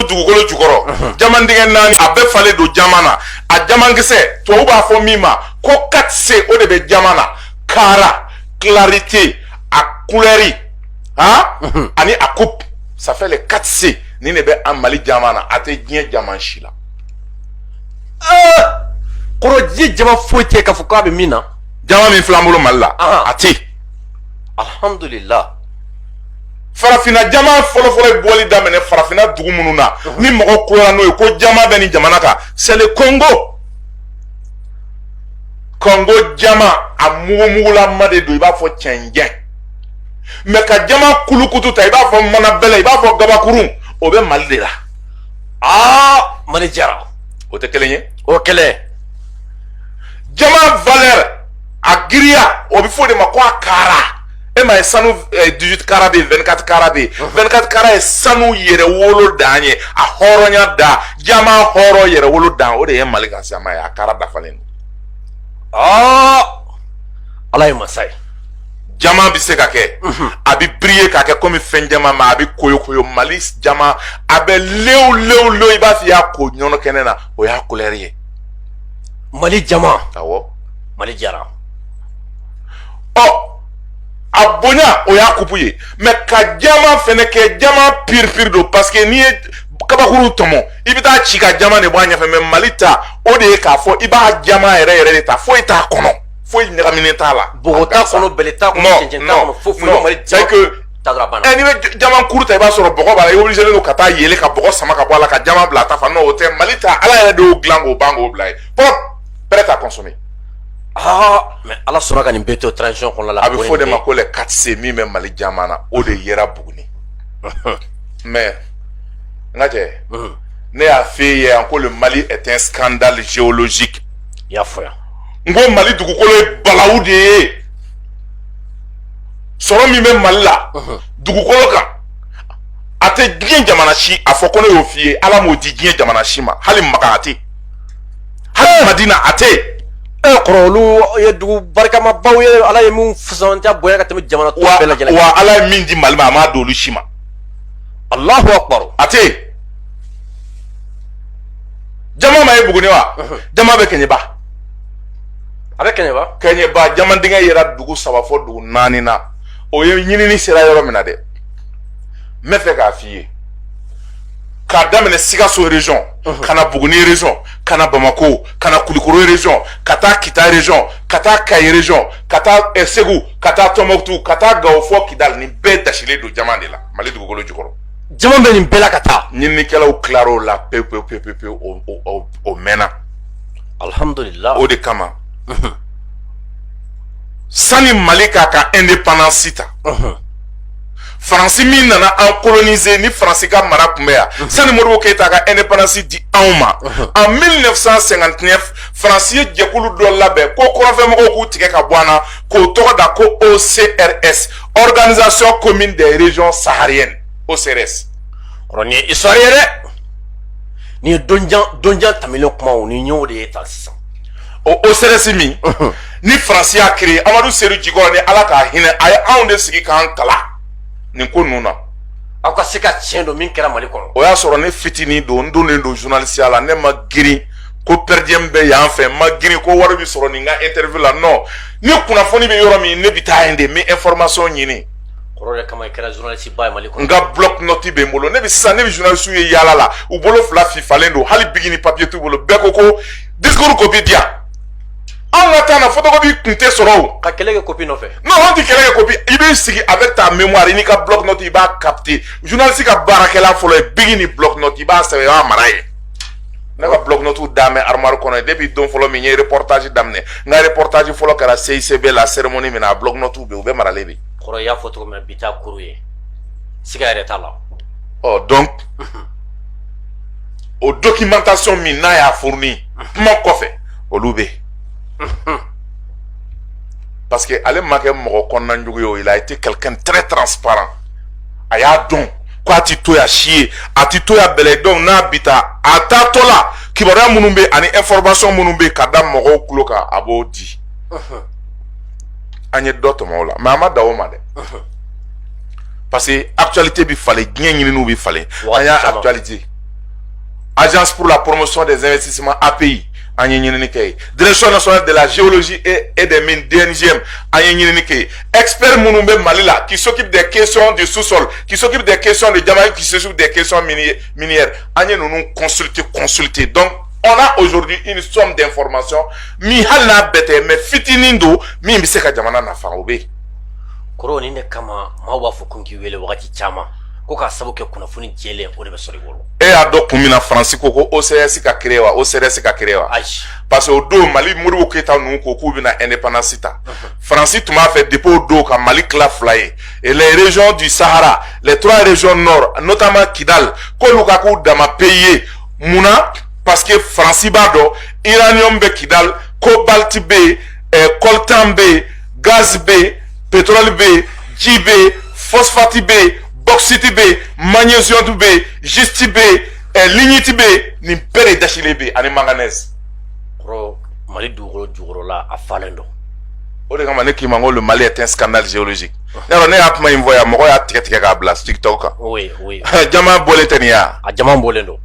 dugukolo jukɔrɔ jaman dingɛ naani a bɛɛ falen don jaman na a jamankisɛ tubabu b'a fɔ min ma ko quatre C o de bɛ jaman na kara clarité a kulɛri ani a coupe ça fait les quatre C nin de bɛ an mali jaman na a tɛ diɲɛ jaman si la kɔrɔ diɲɛ jaman foyi tɛ k'a fɔ k'a bɛ min na jaman min filɛ an bolo mali la a tɛ alhamdulillah farafinna jaman fɔlɔfɔlɔ ye bɔli daminɛ farafinna dugu minnu na ni mɔgɔ koyara n'o ye ko jaman bɛ nin jamana kan c'est le congo congo jaman a mugumugulama de don i b'a fɔ cɛncɛn mais ka jaman kulukutu ta i b'a fɔ manabɛlɛ i b'a fɔ gabakurun o bɛ mali de la aa mali jara o tɛ kelen ye o kɛlɛ jaman valeur a giriya o bɛ fɔ o de ma ko a kara e ma ye sanu eh, 18 kara bɛ yen 24 kara bɛ yen 24 kara ye sanu yɛrɛ wolo dan ye a hɔrɔnya dan jaman hɔrɔn yɛrɛ wolo dan o de ye mali ka jaman ye a kara dafalen don aa ala ye masa ye jaman bɛ se ka kɛ mhm. a bɛ briller k'a kɛ komi fɛn jɛmanman a bɛ koyokoyo mali jaman a bɛ lew lew lew i b'a fɔ i y'a ko ɲɔnɔ kɛnɛ na o y'a kulɛri ye mali jaman awɔ mali jara ɔ a bonya o y'a coupe ye mais ka jaman fɛnɛ kɛ jaman pur pur don parce que n'i ye kabakuru tɔmɔ i bɛ t'a ci ka jaman de bɔ a ɲɛfɛ mais mali ta o de ye k'a fɔ i b'a jaman yɛrɛ yɛrɛ de ta foyi t'a kɔnɔ foyi ɲagaminen t'a la bɔgɔ t'a kɔnɔ bɛlɛ t'a kɔnɔ cɛncɛn t'a kɔnɔ foyi foyi mali jaman ta dɔrɔn a banna ɛ n'i bɛ jaman kuru ta i b'a sɔrɔ bɔgɔ b'a la i obligé don ka taa yɛlɛ ka bɔgɔ sama ka bɔ a la ka jaman bila a ta fan n'o tɛ mali ta ala yɛrɛ de y'o dilan k'o ban k'o bila yen propre prêt à consommer mais ala sɔnna ka nin bɛɛ to transition kɔnɔ la a bɛ fɔ de ma ko les quatre C min bɛ mali jaman na o de yera buguni mais n ka cɛ ne y'a f'i ye yan ko le mali est un scandale géologique i y'a fɔ yan n ko mali dugukolo ye balawu de ye sɔrɔ min bɛ mali la dugukolo kan a tɛ diɲɛ jamana si a fɔ ko ne y'o f'i ye ala m'o di diɲɛ jamana si ma hali makan a tɛ hali madina a tɛ yen kɔrɔ olu ye dugu barikamabaw ye ala ye min fisamantiya bonya ka tɛmɛ jamana tɔw bɛɛ lajɛlen wa ala ye min di mali ma a m'a d'olu si ma alahu akbar a tɛ yen jaman ma ye buguni wa jaman bɛ kɛɲɛba a bɛ kɛɲɛba kɛɲɛba jaman dingɛ yera dugu saba fo dugu naani na o ye ɲinini sera yɔrɔ min na dɛ n bɛ fɛ k'a f'i ye k'a daminɛ sikaso region mhm. ka na buguni region ka na bamako ka na kulikoro region ka taa kita region ka taa kayi region ka taa eh, segu ka taa tɔnbɔkutu ka taa gawo fɔ kidali nin bɛɛ dasilen don jaman de la mali dugukolo jukɔrɔ jaman bɛ nin bɛɛ la ka taa ɲininikɛlaw tilara o la pewu pewu pewu pewu pewu o o o mɛnna alhamdulilah o de kama mhm. sani mali k'a ka indépendance ta mhm. faransi min nana an kolonize ni faransi ka mara tun bɛ yan mhm. sani modibo keyita ka independance di anw ma mhm. en 1959 faransi ye jɛkulu dɔ labɛn ko kɔrɔnfɛmɔgɔw k'u tigɛ ka bɔ an na k'o tɔgɔ da ko ocrs organisation commune des régions sahariennes ocrs kɔrɔ nin ye histoire ye dɛ nin ye donjan donjan tɛmɛnen kumaw nin y'o de ye tan sisan o ocrs min ni faransi y'a créer amadu sedu jikɔrɔni ala ka hinɛ a ye anw de sigi k'an kalan nin ko ninnu na aw ka se ka tiɲɛ dɔn min kɛra mali kɔnɔ o y'a sɔrɔ ne fitinin don n donnen don journalistiya la ne ma girin ko perdiem bɛ yan fɛ n ma girin ko wari bɛ sɔrɔ nin ka interview la non ni kunnafoni bɛ yɔrɔ min ne bɛ taa yen de n bɛ information ɲini kɔrɔ o de kama i kɛra journaliste ba ye mali kɔnɔ n ka bloc note bɛ n bolo ne bɛ sisan ne bɛ journalistew ye yaala la u bolo fila fifalen don hali bigi ni papier t'u bolo bɛɛ ko ko discours copie di yan anw ka temps na photocopie tun tɛ sɔrɔ o ka kɛlɛ kɛ copie nɔfɛ non anw tɛ kɛlɛ kɛ copie i b'i sigi avec ta mémoire i n'i ka bloc note i b'a capter journaliste ka baarakɛlan fɔlɔ ye bigi ni bloc note i b'a sɛbɛn i b'a mara yen ne ka bloc-notes dama bɛ armoire kɔnɔ yen depuis don fɔlɔ min n ye reportage daminɛ n ka reportage fɔlɔ kɛra CICB la cérémonie min na a bloc-notes bɛ yen u bɛ maralen de kɔrɔ i y'a fɔ cogo min na bi t'a kuru ye siga yɛrɛ t'a la ɔ donc o documentation min n'a y'a fourni kuma kɔfɛ olu bɛ yen parce que ale ma kɛ mɔgɔ kɔnɔna jugu ye o il a été quelqu'un très transparent a y'a dɔn ko a ti to yan si ye a ti to yan belen donc n'a bi taa a taatɔ la kibaruya minnu bɛ ani information minnu bɛ ka da mɔgɔw tulo kan a b'o di an ye dɔ tɔmɔ o la mais a ma dan o ma dɛ parce que actualité bɛ falen diɲɛ ɲininiw bɛ falen an y'a actualiser agence pour la promotion des investissements API an ye ɲinini kɛ yen direction nationale de la géologie et, et des mines DNGM an ye ɲinini kɛ yen expert minnu bɛ Mali la qui s'occupent des questions du sous-sol qui s'occupent des questions de diamant qui s'occupent des questions minières an ye ninnu consulter consulter donc on a aujourd'hui une somme d'informations min hali n'a bɛɛ tɛ mais fitinin don min bɛ se ka jamana nafa o bɛ yen. kɔrɔ nin de kama maaw b'a fɔ ko n k'i wele wagati caman. ko k'a sabu kɛ kunnafoni jɛlen o de bɛ sɔrɔ i bolo e y'a dɔn kun min na faransi ko ko ocrs ka créer wa ocrs ka créer wa ayi parce que o don mali modibo keyita ninnu ko k'u bɛna indépendance ta faransi tun b'a fɛ depuis o don ka mali tila fila ye et les régions du sahara les trois régions nord notamment kidal k'olu ka k'u dama pays ye mun na parce que faransi b'a dɔn uranium bɛ kidal cobalt bɛ yen eh, coltan bɛ yen gaz bɛ yen pétrole bɛ yen ji bɛ yen phosphate bɛ yen bauxite bɛ yen magnésium bɛ yen schiste bɛ yen eh, lignite bɛ yen nin bɛɛ de dasilen bɛ yen ani manganèse. kɔrɔ mali dugukolo jukɔrɔla a falen don. o de kama ne k'i ma n ko le mali est un scandale géologique. ne y'a ne y'a kuma in fɔ yan mɔgɔ y'a tigɛ tigɛ k'a bila tiktok kan. oui oui. jama bɔlen tɛ nin ye wa. a jama bɔlen don.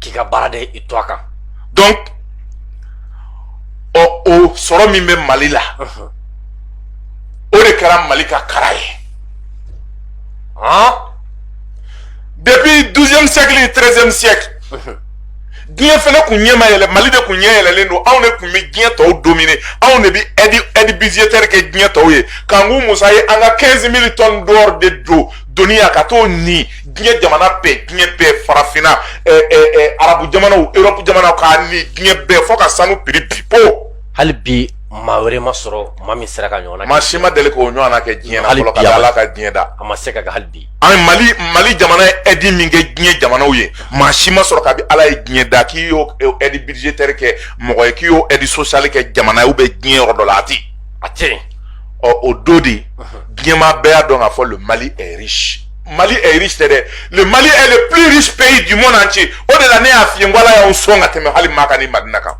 k'i ka baara de i to a kan donc ɔ o sɔrɔ min bɛ mali la o de kɛra mali ka kara ye depuis 12e siècle ni 13e siècle diɲɛ fɛnɛ kun ɲɛ ma yɛlɛ mali de kun ɲɛ yɛlɛlen don anw de kun bɛ diɲɛ tɔw domine anw de bɛ aide budgétaire kɛ diɲɛ tɔw ye kanku musa ye an ka 15000 tonnes d'or de don doni yan ka t'o ni diɲɛ jamana bɛɛ diɲɛ bɛɛ farafinna arabu jamanaw erɔpu jamanaw k'a ni diɲɛ bɛɛ fo ka sanu prix bin po hali bi maa wɛrɛ ma sɔrɔ maa min sera k'a ɲɔgɔnna maa si ma deli k'o ɲɔgɔnna kɛ diɲɛ na fɔlɔ ka ala ka diɲɛ da a ma se ka kɛ hali bi an mali mali jamana ye aide min kɛ diɲɛ jamanaw ye maa si ma sɔrɔ kabi ala ye diɲɛ da k'i y'o aide budgétaire kɛ mɔgɔ ye k'i y'o aide sociale kɛ jamana ye u bɛ diɲɛ yɔrɔ dɔ la a tɛ a tɛ ɔ o don de diɲɛmaa bɛɛ y'a dɔn k'a fɔ le mali est riche mali est riche tɛ dɛ le mali est le plus riche pays du monde entier o de la ne y'a f'i ye n ko ala y'an sɔn ka tɛmɛ hali maka ni madina kan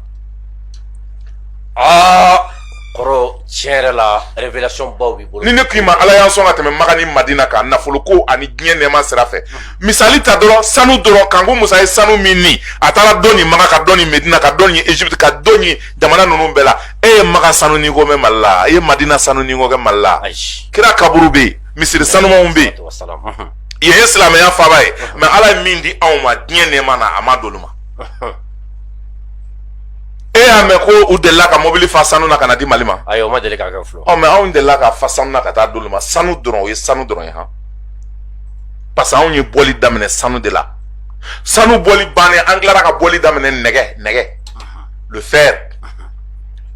aa kɔrɔ tiɲɛ yɛrɛ la révélation baw b'i bolo ni ne k'i ma ala y'an sɔn ka tɛmɛ maga ni madina kan nafoloko ani diɲɛ nɛɛma sira fɛ misali ta dɔrɔn sanu dɔrɔn kanku musa ye sanu min ni a taara dɔ ni maga ka dɔ ni medina ka dɔ ni egypte ka dɔ ni jamana ninnu bɛɛ la e ye maga sanu ni ko mɛn mali la e ye madina sanu ni ko kɛ mali la kira kaburu bɛ yen misiri sanumanw bɛ yen yen ye silamɛya faaba ye mais ala ye min di anw ma diɲɛ nɛɛma na a m'a d'olu ma e y'a mɛn ko u delila ka mobili fa sanu na ka n'a di mali ma ayi o ma deli ka kɛ fɔlɔ ɔ mais anw delila k'a fa sanu na ka t'a d'olu ma sanu dɔrɔn o ye sanu dɔrɔn ye han parce que anw ye bɔli daminɛ sanu de la sanu bɔli bannen an tilara ka bɔli daminɛ nɛgɛ nɛgɛ le fer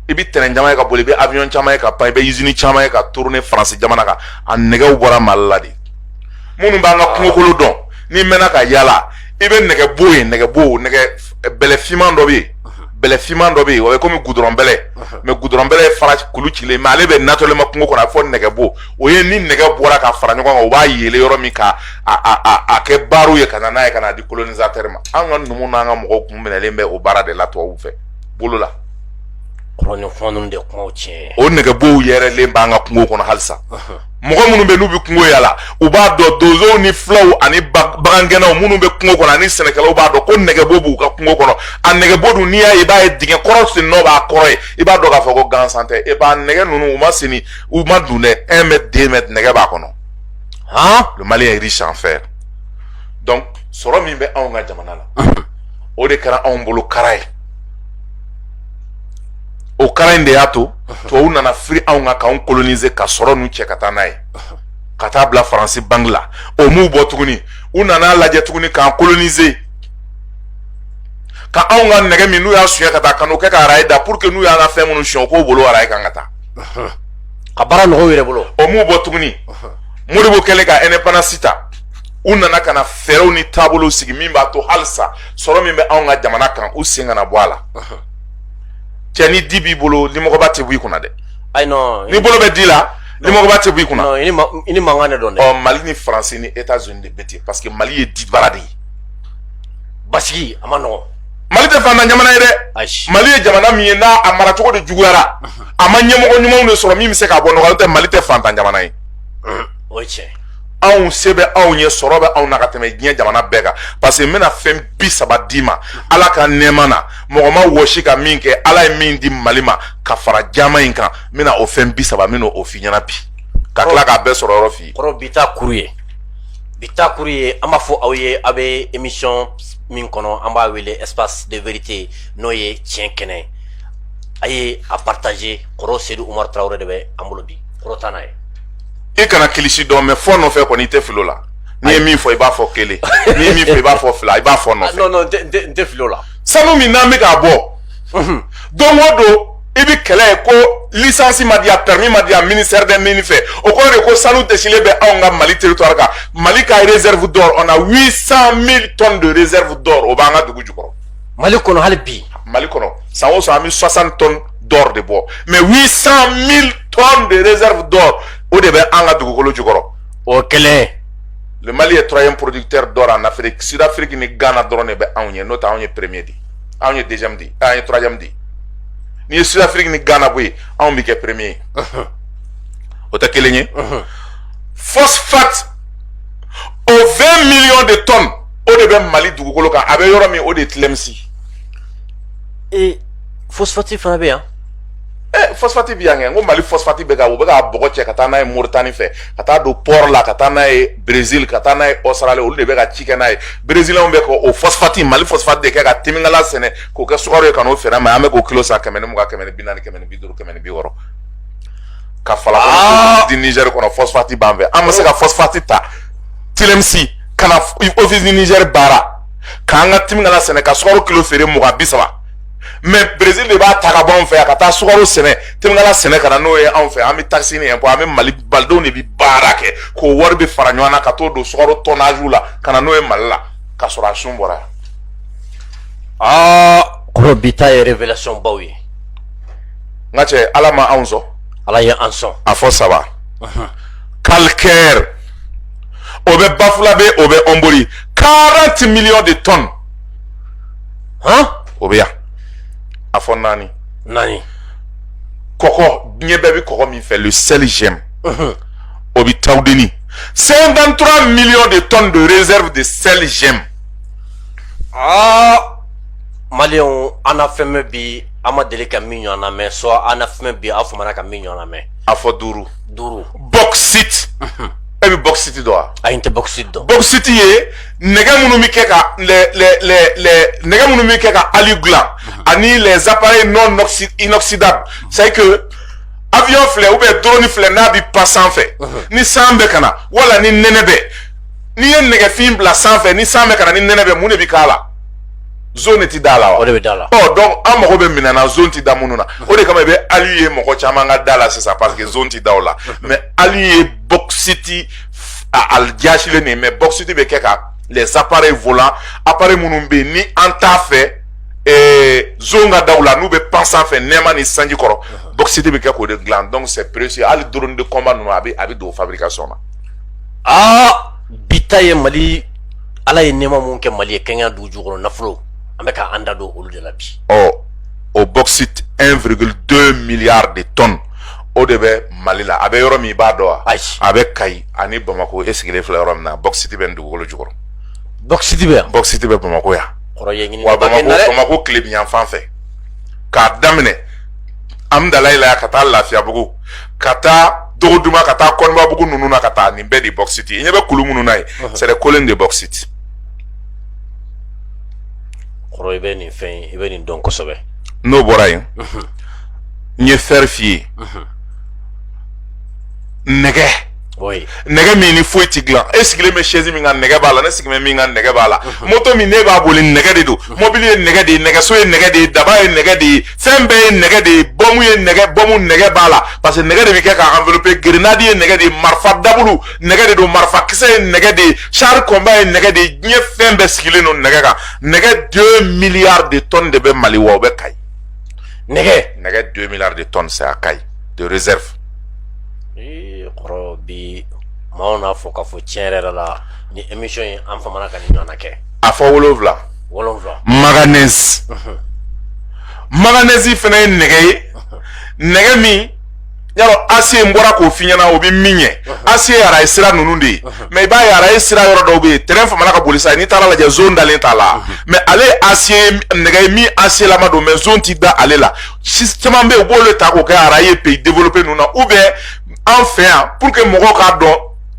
i bɛ tɛrɛn caman ye ka boli i bɛ avion caman ye ka pan i bɛ usine caman ye ka tourner France jamana kan a nɛgɛw bɔra Mali la de minnu b'an ka kungokolo dɔn n'i mɛnna ka yaala i bɛ nɛgɛbo ye nɛgɛbo nɛgɛ bɛlɛ finman dɔ bɛ yen bɛlɛ finman dɔ bɛ yen o ye komi gudɔrɔn bɛlɛ mais gudɔrɔn bɛlɛ ye fara kulu cilen mais ale bɛ naturellement kungo kɔnɔ a bɛ fɔ nɛgɛbo o ye ni nɛgɛ bɔra ka fara ɲɔgɔn kan u b'a yeele yɔrɔ min ka a a a a kɛ barres ye ka na n'a ye ka na di colonisateur ma an ka numu n'an ka mɔgɔw kun minɛlen bɛ o baara de la tubabuw fɛ bolo la kɔrɔnfɔn de kuma tiɲɛ o nɛgɛbɔw yɛrɛlen b'an ka kungo kɔnɔ halisa mɔgɔ minnu bɛ n'u bɛ kungo yala u b'a dɔn donsow ni fulaw ani bagangɛnnaw minnu bɛ kungo kɔnɔ ani sɛnɛkɛlaw b'a dɔn ko nɛgɛbo b'u ka kungo kɔnɔ a nɛgɛbo dun n'i y'a ye i b'a ye dingɛ kɔrɔ sen nɔ b'a kɔrɔ yen i b'a dɔn k'a fɔ ko gansan tɛ e b'a nɛgɛ ninnu u ma sen u man dun dɛ un mètre deux mètres nɛgɛ b'a kɔnɔ han le Mali est riche en fer donc sɔrɔ min bɛ anw ka jamana la o de kɛra anw bolo kara ye o kara in de y'a to tubabu nana firi anw kan k'anw kolonize ka sɔrɔ ninnu cɛ ka taa n'a ye ka taa bila faransi banki la o m'u bɔ tuguni u nana lajɛ tuguni k'an kolonize ka anw ka nɛgɛ min n'u y'a suɲɛ ka taa ka n'o kɛ ka arayi da pour que n'u y'an ka fɛn minnu suɲɛ u k'o boli arayi kan ka taa ka baara nɔgɔya u yɛrɛ bolo o m'u bɔ tuguni modibo kɛlen ka indépendance ta u nana ka na fɛɛrɛw ni taabolow sigi min b'a to halisa sɔrɔ min bɛ anw ka jamana kan u sen kana bɔ a la cɛ ni di b'i bolo limɔgɔba tɛ bɔ i kunna dɛ ayi non n'i bolo bɛ di la limɔgɔba tɛ bɔ i kunna non i ni mankan de don dɛ ɔ mali ni faransi ni etats unis de bɛ ten parce que mali ye dibara de ye basigi a man nɔgɔn mali tɛ fantan jamana ye dɛ mali ye jamana min ye n'a a maracogo de juguyara a ma ɲɛmɔgɔ ɲumanw de sɔrɔ min bɛ se k'a bɔ nɔgɔ la n'o tɛ mali tɛ fantan jamana ye o ye tiɲɛ anw se bɛ anw ye sɔrɔ bɛ anw na ka tɛmɛ diɲɛ jamana bɛɛ kan parce que n bɛna fɛn bi saba d'i ma ala ka nɛɛma na mɔgɔ ma wɔsi ka min kɛ ala ye min di mali ma ka fara jama in kan n bɛna o fɛn bi saba n bɛna o f'i ɲɛna bi ka tila k'a bɛɛ sɔrɔ yɔrɔ f'i kɔrɔ bi ta kuru ye bi ta kuru ye an b'a fɔ aw ye aw bɛ émission min kɔnɔ an b'a wele espace de vérité n'o ye tiɲɛ kɛnɛ a ye a partager kɔrɔ sedu umaru tarawele de bɛ an bolo bi kɔrɔ taa n'a ye i kana kilisi dɔn mais fɔ nɔfɛ kɔni i tɛ fili o la n'i ye min fɔ i b'a fɔ kelen n'i ye min fɔ i b'a fɔ fila i b'a fɔ nɔfɛ non non n tɛ fili o la sanu min n'an bɛ k'a bɔ don o don i bɛ kɛlɛ ye ko lisansi ma di yan permis ma di yan ministère des mines fɛ o kɔrɔ tɛ ko sanu dɛsɛlen bɛ anw ka mali territoire kan mali ka réserve d'or on a 800 000 tonnes de réserve d'or o b'an ka dugu jukɔrɔ mali kɔnɔ hali bi mali kɔnɔ san o san an bɛ 60 tonnes d'or de bɔ mais 800 000 tonnes de réserve d'or o de bɛ an ka dugukolo jukɔrɔ o kɛlen le mali est troisième producteur d'or en afrique sud afrique ni ghana dɔrɔn de bɛ anw ɲɛ n'o tɛ anw ye premier di anw ye deuxième di an ye troisième di n'i ye sud afrique ni ghana bɔ yen anw bɛ kɛ premier ye o tɛ kelen ye phosphate o 20 millions de tonnes o de bɛ mali dugukolo kan a bɛ yɔrɔ min o de ye tilemisi ee fosfati fana bɛ yan ɛ fosfati bɛ yan kɛ n ko mali fosfati bɛ ka u bɛ ka bɔgɔ cɛ ka taa n'a ye moritani fɛ ka taa don pɔrɔ la ka taa n'a ye brezil ka taa n'a ye ɔsitirali olu de bɛ ka ci kɛ n'a ye brezilɛnw bɛ ka o fosfati mali fosfati de kɛ ka timinkala sɛnɛ k'o kɛ sukaro ye ka n'o feere ma an bɛ k'o kilo san kɛmɛ ni mugan kɛmɛ ni bi naani kɛmɛ ni bi duuru kɛmɛ ni bi wɔɔrɔ ka fala ah! di nizɛri kɔnɔ fosfati b'an fɛ an bɛ se ka fosfati ta tilemisi ka na ofisi di nizɛri baara k'an ka timinkala sɛnɛ ka sukaro kilo feere mugan bi saba mais brésil de b'a ta ka bɔ anw fɛ yan ka taa sukaro sɛnɛ timinkala sɛnɛ ka na n'o ye anw fɛ an bɛ takisi ni impôt an bɛ mali malidenw de bɛ baara kɛ k'o wari bɛ fara ɲɔgɔn na ka t'o don sukaro tɔnnaziw la ka na n'o ye mali la ka sɔrɔ a sun bɔra yan. aa kɔrɔ bi ta ye révélation baw ye. n ka cɛ ala ma anw sɔn. ala ye an sɔn. a fɔ saba. calcaire o bɛ bafulabe o bɛ ɔnbori 40 millions de tonnes. hɔn o bɛ yan a fɔ naani naani kɔkɔ diɲɛ bɛɛ bɛ kɔkɔ min fɛ le sel gemme o bɛ tawudeni 53 millions de tonnes de réserve de sel gemme aa maliyɛnw an na fɛn mɛn bi an ma deli ka min ɲɔgɔn na mɛn soit an na fɛn mɛn bi aw famana ka min ɲɔgɔn na mɛn a fɔ duuru duuru bɔkisiti e bɛ bɔkisiti dɔn wa ayi n tɛ bɔkisiti dɔn bɔkisiti ye nɛgɛ minnu bɛ kɛ ka nɛgɛ minnu bɛ kɛ ka ali dilan ani les appareils non inoxydables c'est que avion filɛ ou bien drone filɛ n'a bɛ pan sanfɛ ni san bɛ ka na wala ni nɛnɛ bɛ n'i ye nɛgɛfin bila sanfɛ ni san bɛ ka na ni nɛnɛ bɛ mun de bɛ k'a la zɔn ti da a la wa o de bɛ da la ɔ donc an mago bɛ minɛn na zɔn ti da minnu na o de kama i bɛ ali ye mɔgɔ caman ka da la sisan parce que zɔn ti da o la mais ali ye bɔkisiti a jasilen de mais bɔkisiti bɛ kɛ ka les appareils volants appareils minnu bɛ yen ni an t'a fɛ ee zɔn ka da u la n'u bɛ pan sanfɛ nɛɛma ni sanji kɔrɔ bɔkisiti bɛ kɛ k'o de dilan donc c'est précieux hali drone de combat ninnu a bɛ a bɛ don fabrication na aa bi ta ye mali ala ye nɛɛma minnu kɛ mali ye kɛɲɛ dugu jukɔrɔ nafolo an bɛ k'an da don olu de la bi ɔ o bɔkisiti 1,2 milliard de tonnes o de bɛ mali la a bɛ yɔrɔ min i b'a dɔn wa a bɛ kayi ani bamakɔ e sigilen filɛ yɔrɔ min na bɔsiti bɛ nin dugukolo jukɔrɔ bɔsiti bɛ bɔsiti bɛ bamakɔ yan wa bamakɔ tilebinyanfan fɛ k'a daminɛ amudalayi la ka taa lafiyabugu ka taa dogoduman ka taa kɔnibabugu ninnu na ka taa nin bɛɛ de bɔsiti i ɲɛ bɛ kulu minnu na ye c'est des collines de bauxite kɔrɔ i bɛ nin fɛn i bɛ nin dɔn kosɛbɛ n'o bɔra yen n ye fɛri f'i ye nɛgɛ nɛgɛ min ni foyi ti dilan e sigilen bɛ sɛsi min kan nɛgɛ b'a la ne sigilen bɛ min kan nɛgɛ b'a la moto min ne b'a boli nɛgɛ de don mɔbili ye nɛgɛ de ye nɛgɛso ye nɛgɛ de ye daba ye nɛgɛ de ye fɛn bɛɛ ye nɛgɛ de ye bɔmu ye nɛgɛ bɔmu nɛgɛ b'a la parce que nɛgɛ de bɛ kɛ k'a envelopper grenade ye nɛgɛ de ye marifa dabulu nɛgɛ de don marifa kisɛ ye nɛgɛ de ye char combat ye nɛgɛ de ye diɲɛ fɛn bɛɛ sigilen don nɛgɛ kan nɛgɛ 2 milliards de tonnes de bɛ Mali wa o bɛ Kayi nɛgɛ nɛgɛ deux milliards de tonnes c'est à kayi de réserve ee kɔrɔ bi maaw n'a fɔ k'a fɔ tiɲɛ yɛrɛ yɛrɛ la ni émission in an famana ka nin ɲɔgɔnna kɛ a fɔ wolowula wolowula maganɛsi maganɛsi fana ye nɛgɛ ye nɛgɛ min y'a lɔn acier n bɔra k'o f'i ɲɛna o bɛ min ɲɛ acier ye araye sira ninnu de ye mais i b'a ye araye sira yɔrɔ dɔw bɛ yen tɛrɛn famana ka boli sa n'i taara lajɛ zɔn dalen t'a la mais ale ye acier nɛgɛ ye min acierlama don mais zɔn ti da ale la si caman bɛ yen u b'olu ta k'o kɛ araye pays développé ninnu na ou bien an fɛ yan pour que mɔgɔw k'a dɔn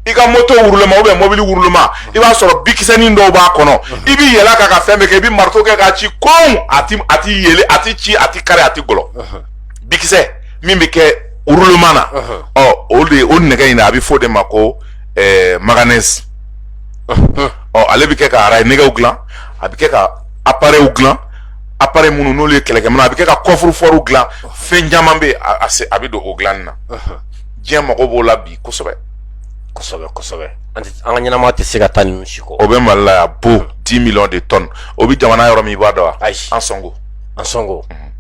i ka moto roulement ou bien mɔbili roulement i b'a sɔrɔ bikisɛnin dɔw b'a kɔnɔ i b'i yɛlɛ ka ka fɛn bɛɛ kɛ i bɛ marito kɛ k'a ci kon a ti a ti yele a ti ci a ti kari a ti gɔlɔn bikisɛ min bɛ kɛ roulement na ɔ o de o nɛgɛ in a bɛ fɔ o de ma ko eh, maganɛsi ɔ ale bɛ kɛ ka araye nɛgɛw dilan a bɛ kɛ ka aparɛyiw dilan aparɛyi minnu n'olu ye kɛlɛkɛminɛ a bɛ kɛ ka kɔfurufɔriw dilan fɛn caman bɛ acier a bɛ don o dilanni na diɲɛ mago b'o la bi kosɛbɛ kosɛbɛ kosɛbɛ an ka ɲɛnamaya tɛ se ka taa ninnu si kɔ o bɛ mali la yan bon dix millions de tonnes o bɛ jamana yɔrɔ min i b'a dɔn wa ayi ansongo ansongo mhm.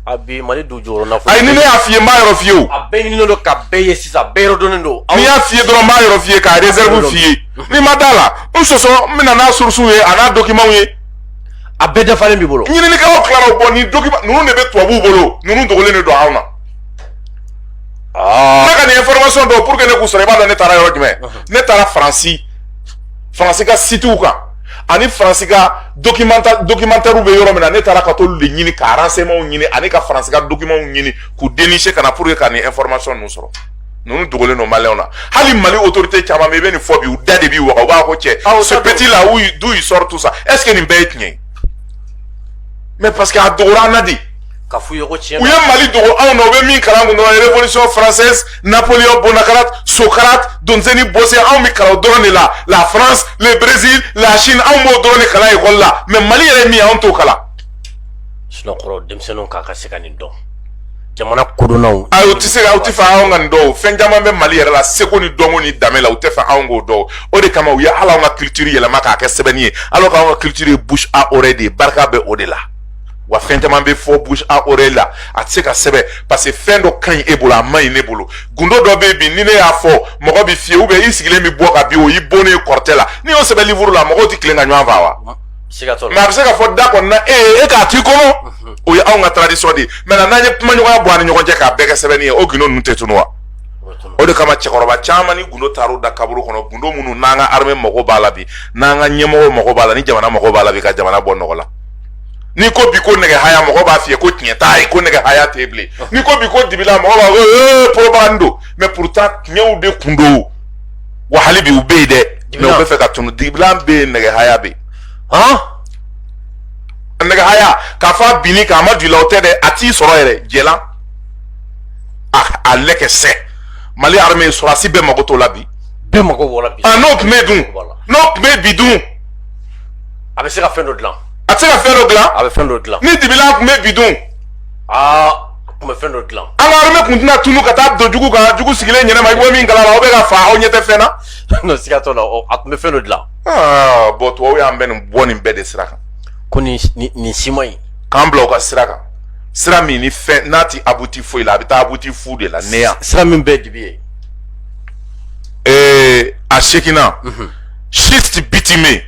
A bi mali dugu jɔn na ayi ni ne y'a f'i ye n b'a yɔrɔ f'i ye o a bɛɛ ɲininen don k'a bɛɛ ye sisan bɛɛ yɔrɔ dɔnnen don ni n y'a f'i ye dɔrɔn n b'a yɔrɔ f'i ye k'a réserve f'i ye n'i ma d'a la n sɔsɔ n bɛ na n'a source ye a n'a document ye a bɛɛ dafalen b'i bolo ɲininikɛlaw tilara o bɔ nin document ninnu de bɛ tubabuw bolo ninnu dogolen de don anw na ne ka nin information dɔw pour que ne k'u sɔrɔ i b'a dɔn ne taara yɔrɔ jumɛn ne taara faransi faransi ka sitiw kan ani faransi ka documenta documentaire bɛ yɔrɔ min na ne taara ka t'olu de ɲini ka renseignements ɲini ani ka faransi ka documents ɲini k'u dénicher ka na pour que ka nin information ninnu sɔrɔ ninnu dogolen don maliyɛnw na hali mali autorité caman bɛ i bɛ nin fɔ bi u da de b'i waga u b'a ko cɛ ce petit là d'où il sort tout ça est ce que nin bɛɛ ye tiɲɛ ye mais parce que a dogora an na de ka f'u ye ko tiɲɛ u ye mali dogo anw na u bɛ min kalan kun dɔrɔn révolution française napoléon bonaparte socrate donzeni bose anw bɛ kalan o dɔrɔn de la la france le brésil la chine anw b'o dɔrɔn de kalan ekɔli la mais mali yɛrɛ min ye anw t'o kalan sinon kɔrɔ denmisɛnninw ka kan ka se ka nin dɔn jamana kodɔnnaw ayi u tɛ se ka u tɛ fɛ anw ka nin dɔn o fɛn caman bɛ mali yɛrɛ la seko ni dɔnko ni danbe la u tɛ fɛ anw k'o dɔn o de kama u ye hali anw ka culture yɛlɛma k'a kɛ sɛbɛnni ye alors qu'anw ka culture ye bouche à oreille de ye barika bɛ o de la wa fɛn caman bɛ fɔ bouche à oreille la a tɛ se ka sɛbɛn parce que fɛn dɔ ka ɲi e bolo a man ɲi ne bolo gundo dɔ bɛ yen bi ni ne y'a fɔ mɔgɔ bɛ fiyɛ ou bien i sigilen bɛ bɔ ka bin o y'i bonnen ye kɔrɔtɛ la n'i y'o sɛbɛn livuru la mɔgɔw tɛ tilen ka ɲɔgɔn fa wa. mais a bɛ se ka fɔ da kɔni na e ye e k'a t'i kɔnɔ mhm. o ye anw ka tradition de ye maintenant n'an ye kumaɲɔgɔnya bɔ an ni ɲɔgɔn cɛ k'a bɛɛ kɛ sɛbɛnni ye o gundo ninnu tɛ tunu wa. o de kama cɛkɔrɔba caman ni gundo taar'u da kaburu kɔnɔ gundo minnu n'an ka armée mago b'a la bi n'an ka ɲɛmɔgɔw mago b'a la ni jamana mago b'a la bi ka jamana bɔ nɔgɔ la. n'i ko bi ko nɛgɛ haya mɔgɔ b'a f'i ye ko tiɲɛ t'a ye ko nɛgɛ haya tɛ bilen n'i ko bi ko dibila mɔgɔ b'a fɔ ee propagande don mais pourtant tiɲɛw de kun don wa hali bi u bɛ yen dɛ mais u bɛ fɛ ka tunu dibila bɛ yen nɛgɛ haya bɛ yen han nɛgɛ haya k'a fɔ a binn'i kan a ma don i la o tɛ dɛ a t'i sɔrɔ yɛrɛ jɛlan a a lɛkɛ sɛ mali armée sɔrɔdasi bɛɛ mago t'o la bi bɛɛ mago b'o la bi n'o tun bɛ dun n'o tun bɛ bi dun a bɛ se ka fɛn dɔ dilan a bɛ se ka fɛn dɔ dilan a bɛ fɛn dɔ dilan ni dibila tun bɛ bi dun aa tun bɛ fɛn dɔ dilan an ka armée tun tɛna tunu ka taa don jugu kan jugu sigilen ɲɛnama i bɔ min kalama aw bɛ ka fa aw ɲɛ tɛ fɛn na non siga t'o la a tun bɛ fɛn dɔ dilan aa bon tubabu y'an bɛ nin bɔ nin bɛɛ de sira kan ko nin nin si man ɲi k'an bila u ka sira kan sira min ni fɛn n'a tɛ aboutir foyi la a bɛ taa aboutir fu de la néant sira min bɛɛ dibi ye ee a sekinna mhm. schiste bitumeux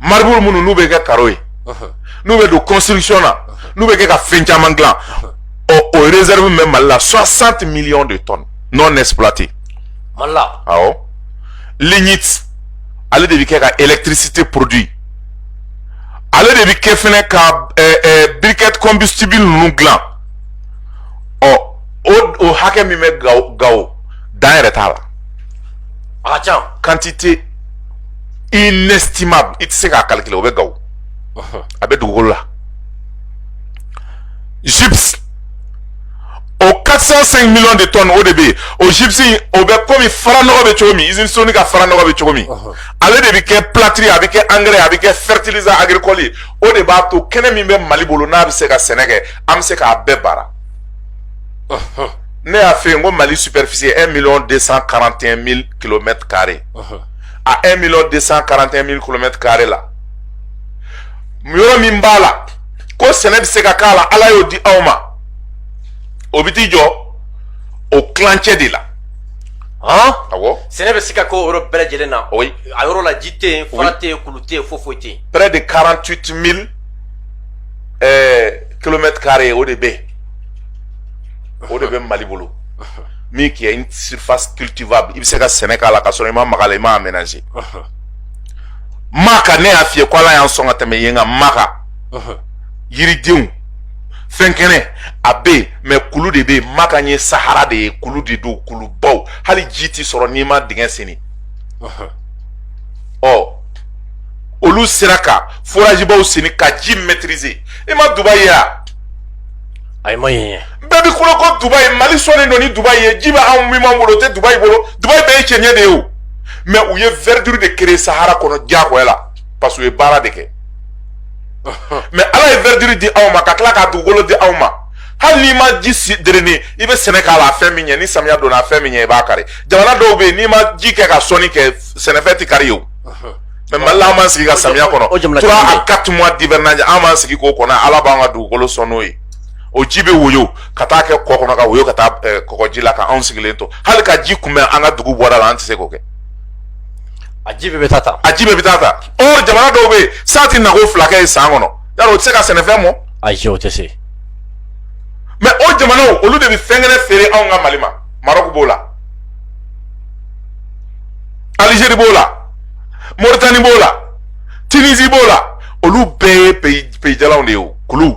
marbre minnu n'u bɛ kɛ karo ye n'u bɛ don construction na n'u bɛ kɛ ka fɛn caman dilan ɔ o réserve min bɛ mali la 60 millions de tonnes non exploitées mali la awɔ lignite ale de bɛ kɛ ka électricité produit ale de bɛ kɛ fɛnɛ ka ɛɛ ɛɛ briquette combustible ninnu dilan ɔ o o hakɛ min bɛ gawo gawo dan yɛrɛ t'a la. A ka ca quantité inestimable i tɛ se k'a calculer o bɛ gawo a bɛ dugukolo la gypse o 405 millions de tonnes o de bɛ yen o gypse o bɛ kɔmi faranɔgɔ bɛ cogo min usine soni ka faranɔgɔ bɛ cogo min ale de bɛ kɛ plâtre a bɛ kɛ engrais a bɛ kɛ fertilisant agricole ye o de b'a to kɛnɛ min bɛ mali bolo n'a bɛ se ka sɛnɛ kɛ an bɛ se k'a bɛɛ baara ne y'a f'e ye n ko mali superficie un million deux cent quarante et un mille kilomètre carré a un million deux cent quarante et un mille kilomètre carré la yɔrɔ min b'a la ko sɛnɛ bɛ se ka k'a la ala y'o di aw ma o bɛ t'i jɔ o tilancɛ de la. han awɔ sɛnɛ bɛ se ka kɛ o yɔrɔ bɛɛ lajɛlen na oui a yɔrɔ la ji tɛ yen fara tɛ yen kulu tɛ yen foyi foyi tɛ yen près de 48 000 ɛɛ kilomètre carré o de bɛ yen o de bɛ mali bolo min qui est une surface cultivable i bɛ se ka sɛnɛ k'a la ka sɔrɔ i ma mag'a la i m'a aménager maka ne y'a f'i ye ko ala y'an sɔn ka tɛmɛ yen kan maka yiridenw fɛn kɛnɛ a bɛ yen mais kulu de bɛ yen maka ye sahara de ye kulu de don kulubaw hali ji tɛ sɔrɔ n'i ma dingɛ senni ɔ olu sera ka forajibaw senni ka ji maîtriser i ma dubaï ye wa ayi n ma yen ye bɛɛ bɛ kulo ko dubaï mali sɔnnen don ni dubaï ye ji bɛ anw min b'an bolo o tɛ dubaï bolo dubaï bɛɛ ye cɛncɛn de ye o mais u ye verdure de créer sahara kɔnɔ diyagoya la parce que u ye baara de kɛ mais ala ye verdure di anw ma ka tila ka dugukolo di anw ma hali n'i ma ji si drainer i bɛ sɛnɛ k'a la a fɛn min ɲɛ ni samiya donna a fɛn min ɲɛ i b'a kari jamana dɔw bɛ yen n'i ma ji kɛ ka sɔnni kɛ sɛnɛfɛn tɛ kari yen o mais mali la an b'an sigi ka samiya kɔnɔ trois à quatre mois d'hivernage an b'an sigi k'o kɔnɔ ala b'an ka dugukolo sɔn n'o ye o ji bɛ woyo ka taa kɛ kɔ kɔnɔ ka woyo ka taa eh, kɔgɔji la ka anw sigilen to hali ka ji kunbɛn an ka dugu bɔda la an tɛ se k'o kɛ a ji bɛɛ bɛ taa ta a ji bɛɛ bɛ taa ta or jamana dɔw bɛ yen san tɛ nako fila kɛ san kɔnɔ yala o tɛ se ka sɛnɛfɛn mɔ ayi o tɛ se mais o jamanaw olu de bɛ fɛn kɛnɛ feere anw ka mali ma marɔku b'o la alizeri b'o la moritani b'o la tunisie b'o la olu bɛɛ ye pays jalanw de ye o kulu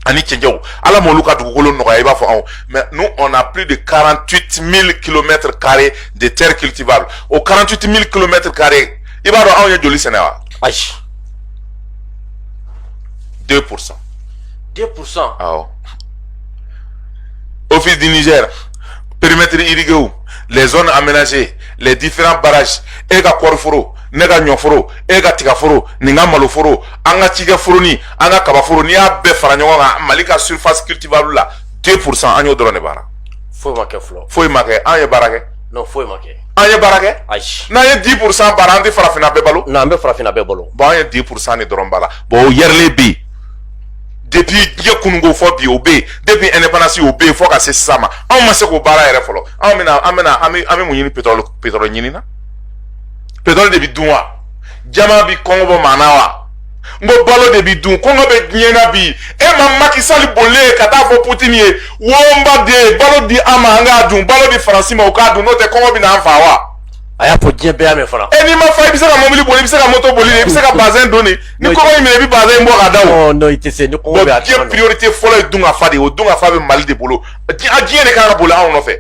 ani cɛncɛnw ala m'olu ka dugukolo nɔgɔya i b'a fɔ anw mais nous on a plus de 48 000 kilomètres carrés de terre cultivable o 48 000 kilomètres carrés i b'a dɔn anw ye joli sɛnɛ wa ayi 2 pour cent 2 pour cent awɔ office du niger périmètre irrigué les zones aménagées les différents barrages e ka kɔɔriforo ne ka ɲɔforo e ka tigaforo nin ka maloforo an ka cikɛ foroni an ka kabaforo n'i y'a bɛɛ fara ɲɔgɔn kan mali ka surface cultivable la 2 pourcent an y'o dɔrɔn de baara foyi ma kɛ fɔlɔ foyi ma kɛ an ye baara kɛ non foyi ma kɛ an ye baara kɛ ayi n'an ye 10 pourcent baara an tɛ farafinna bɛɛ balo non an bɛ farafinna bɛɛ balo bon an ye 10 pourcent de dɔrɔn baara bon o yɛrɛlen bɛ yen depuis diɲɛ kununko fɔ bi o bɛ yen depuis indépendance o bɛ yen fɔ ka se sisan ma anw ma se k'o baara yɛrɛ fɔlɔ anw bɛna an bɛna an bɛ an bɛ mun ɲini petɔrɔli petɔrɔli ɲini na petɔrɔli de bɛ dun wa jaman bɛ kɔngɔ bɔ maa na wa n ko balo de bɛ dun kɔngɔ bɛ diɲɛ na bi e ma macky sall bolilen ye ka taa fɔ putini ye o n b'a deli balo di an ma an k'a dun balo di faransi ma o k'a dun n'o tɛ kɔngɔ bɛ n'an faa wa. a y'a fɔ diɲɛ bɛɛ y'a mɛn fana. e n'i ma fa i bɛ se ka mobili boli i bɛ se ka moto boli i bɛ se ka bazɛn don de ni kɔngɔ y'i minɛ i bɛ bazɛn bɔ ka da o. non i tɛ se ni kɔngɔ bɛ a tuma na. diɲɛ priorité fɔlɔ ye dunkafa de ye o dunkafa bɛ mali de bolo a diɲɛ de kan ka boli anw nɔfɛ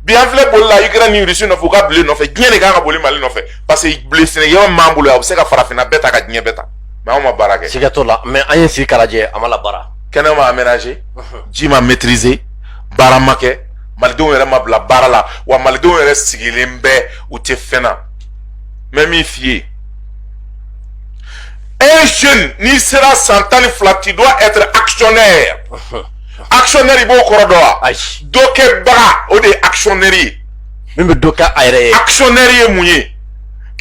bi an filɛ boli la ukraine ni russie nɔfɛ u ka blé nɔfɛ diɲɛ de kan ka boli mali nɔfɛ parce que blé sɛnɛkɛyɔrɔ min b'an bolo yan o bɛ se ka farafinna bɛɛ ta ka diɲɛ bɛɛ ta mais anw ma baara kɛ. siga t'o la mais an ye sigi k'a lajɛ a ma labaara. kɛnɛ ma aménager ji ma maîtriser baara ma kɛ. malidenw yɛrɛ ma bila baara la wa malidenw yɛrɛ sigilen bɛ u tɛ fɛn na n bɛ min f'i ye un jeune n'i sera san tan ni fila tu dois être actionnaire actionnaire i b'o kɔrɔ dɔn wa dɔ kɛbaga o de ye actionnaire ye min bɛ dɔ kɛ a yɛrɛ ye actionnaire ye mun ye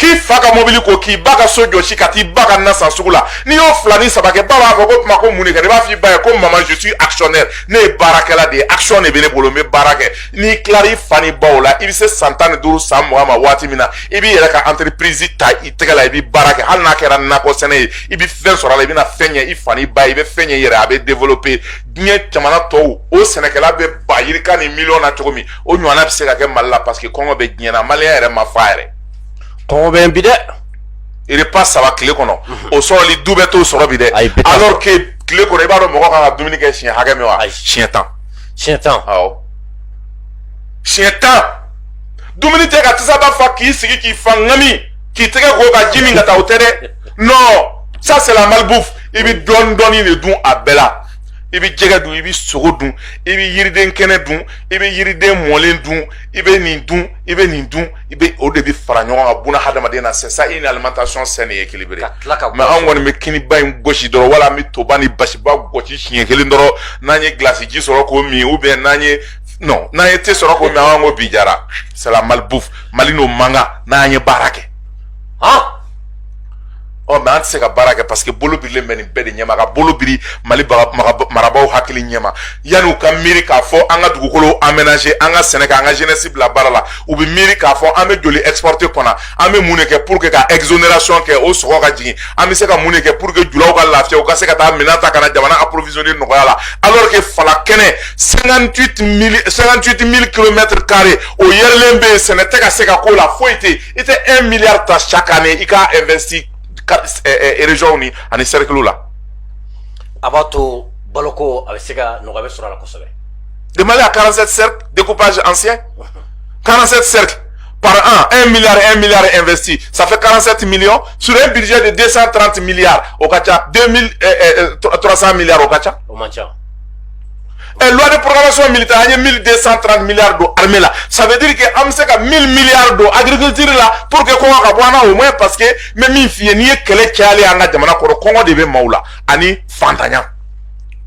k'i fa ka mobili ko k'i ba ka so jɔsi ka t'i ba ka na san sugu la n'i y'o fila ni saba kɛ ba b'a fɔ ko kuma ko mun de kɛ i b'a f'i ba ye ko mama je suis actionnaire ne ye baarakɛla de ye action de bɛ ne bolo n bɛ baara kɛ n'i tilara i fa ni baw la i bɛ se san tan ni duuru san mugan ma waati min na i b'i yɛrɛ ka entreprise ta i tɛgɛ la i bɛ baara kɛ hali n'a kɛra nakɔ sɛnɛ ye i bɛ fɛn sɔrɔ a la i bɛna fɛn ɲɛ i fa ni ba ye i bɛ fɛn ɲɛ i yɛrɛ a bɛ développer diɲɛ jamana tɔw o sɛnɛkɛla bɛ ba yirika ni miliyɔn na cogo min o ɲɔgɔnna bɛ se ka kɛ mali la parce que kɔngɔ bɛ diɲɛ na maliyɛn yɛrɛ ma fa yɛrɛ kɔngɔ bɛ bi dɛ repas saba tile kɔnɔ o sɔrɔli du bɛɛ t'o sɔrɔ bi dɛ alors que tile kɔnɔ i b'a dɔn mɔgɔ kan ka dumuni kɛ siɲɛ hakɛ min wa siɲɛ tan siɲɛ tan awɔ siɲɛ tan dumuni tɛ ka tasaba fa k'i sigi k'i fa ŋami k'i tɛgɛ ko ka ji min ka taa o tɛ dɛ non ça c'est la malbouffe i bɛ dɔɔni dɔɔni de dun a bɛɛ la i bɛ jɛgɛ dun i bɛ sogo dun i bɛ yiriden kɛnɛ dun i bɛ yiriden mɔlen dun i bɛ nin dun i bɛ nin dun i bɛ o de bɛ fara ɲɔgɔn kan ka buna hadamaden na c'est ça une alimentation saine et équilibrée mais anw kɔni bɛ kiniba in gosi dɔrɔn wala an bɛ toba ni basiba gosi siɲɛ kelen dɔrɔn n'an ye gilasi ji sɔrɔ k'o min ou bien n'an ye non n'an ye thé sɔrɔ k'o min an ko bi diyara c'est la malbouffe mali n'o man kan n'an ye baara kɛ han ɔ mais an tɛ se ka baara kɛ parce que bolo birilen bɛ nin bɛɛ de ɲɛma ka bolo biri mali marabaaw hakili ɲɛma yanni u ka miiri k'a fɔ an ka dugukolo aménager an ka sɛnɛ kɛ an ka jeunesse bila baara la u bɛ miiri k'a fɔ an bɛ joli exporter ka na an bɛ mun de kɛ pour que ka exonération kɛ o sɔngɔ ka jigin an bɛ se ka mun de kɛ pour que julaw ka lafiya u ka se ka taa minɛn ta ka na jamana approvisionner nɔgɔya la alors que fala kɛnɛ 58 mille 58 mille kilomètres carrés o yɛrɛlen bɛ yen sɛnɛ tɛ ka se ka k'o la foyi tɛ yen i tɛ un milliard ta chaque année i k'a investir région ni ani cercle la. a b'a to baloko a bɛ se ka nɔgɔya bɛ sɔrɔ a la kosɛbɛ. le Mali a 47 cercles découpage ancien 47 cercles par an 1 milliard 1 milliard investi ça fait 47 millions sur un budget de 230 milliards o ka ca 2300 milliards o ka ca. o man ca. ɛ eh, loi de programmation militaire an ye 1230 milliards don armée la ça veut dire que an bɛ se ka 1000 milliards don agriculture la pour que kɔngɔ ka bɔ an na au moins parce que n bɛ min f'i ye n'i ye kɛlɛ cayalen ye an ka jamana kɔnɔ kɔngɔ de bɛ maaw la ani fantanya.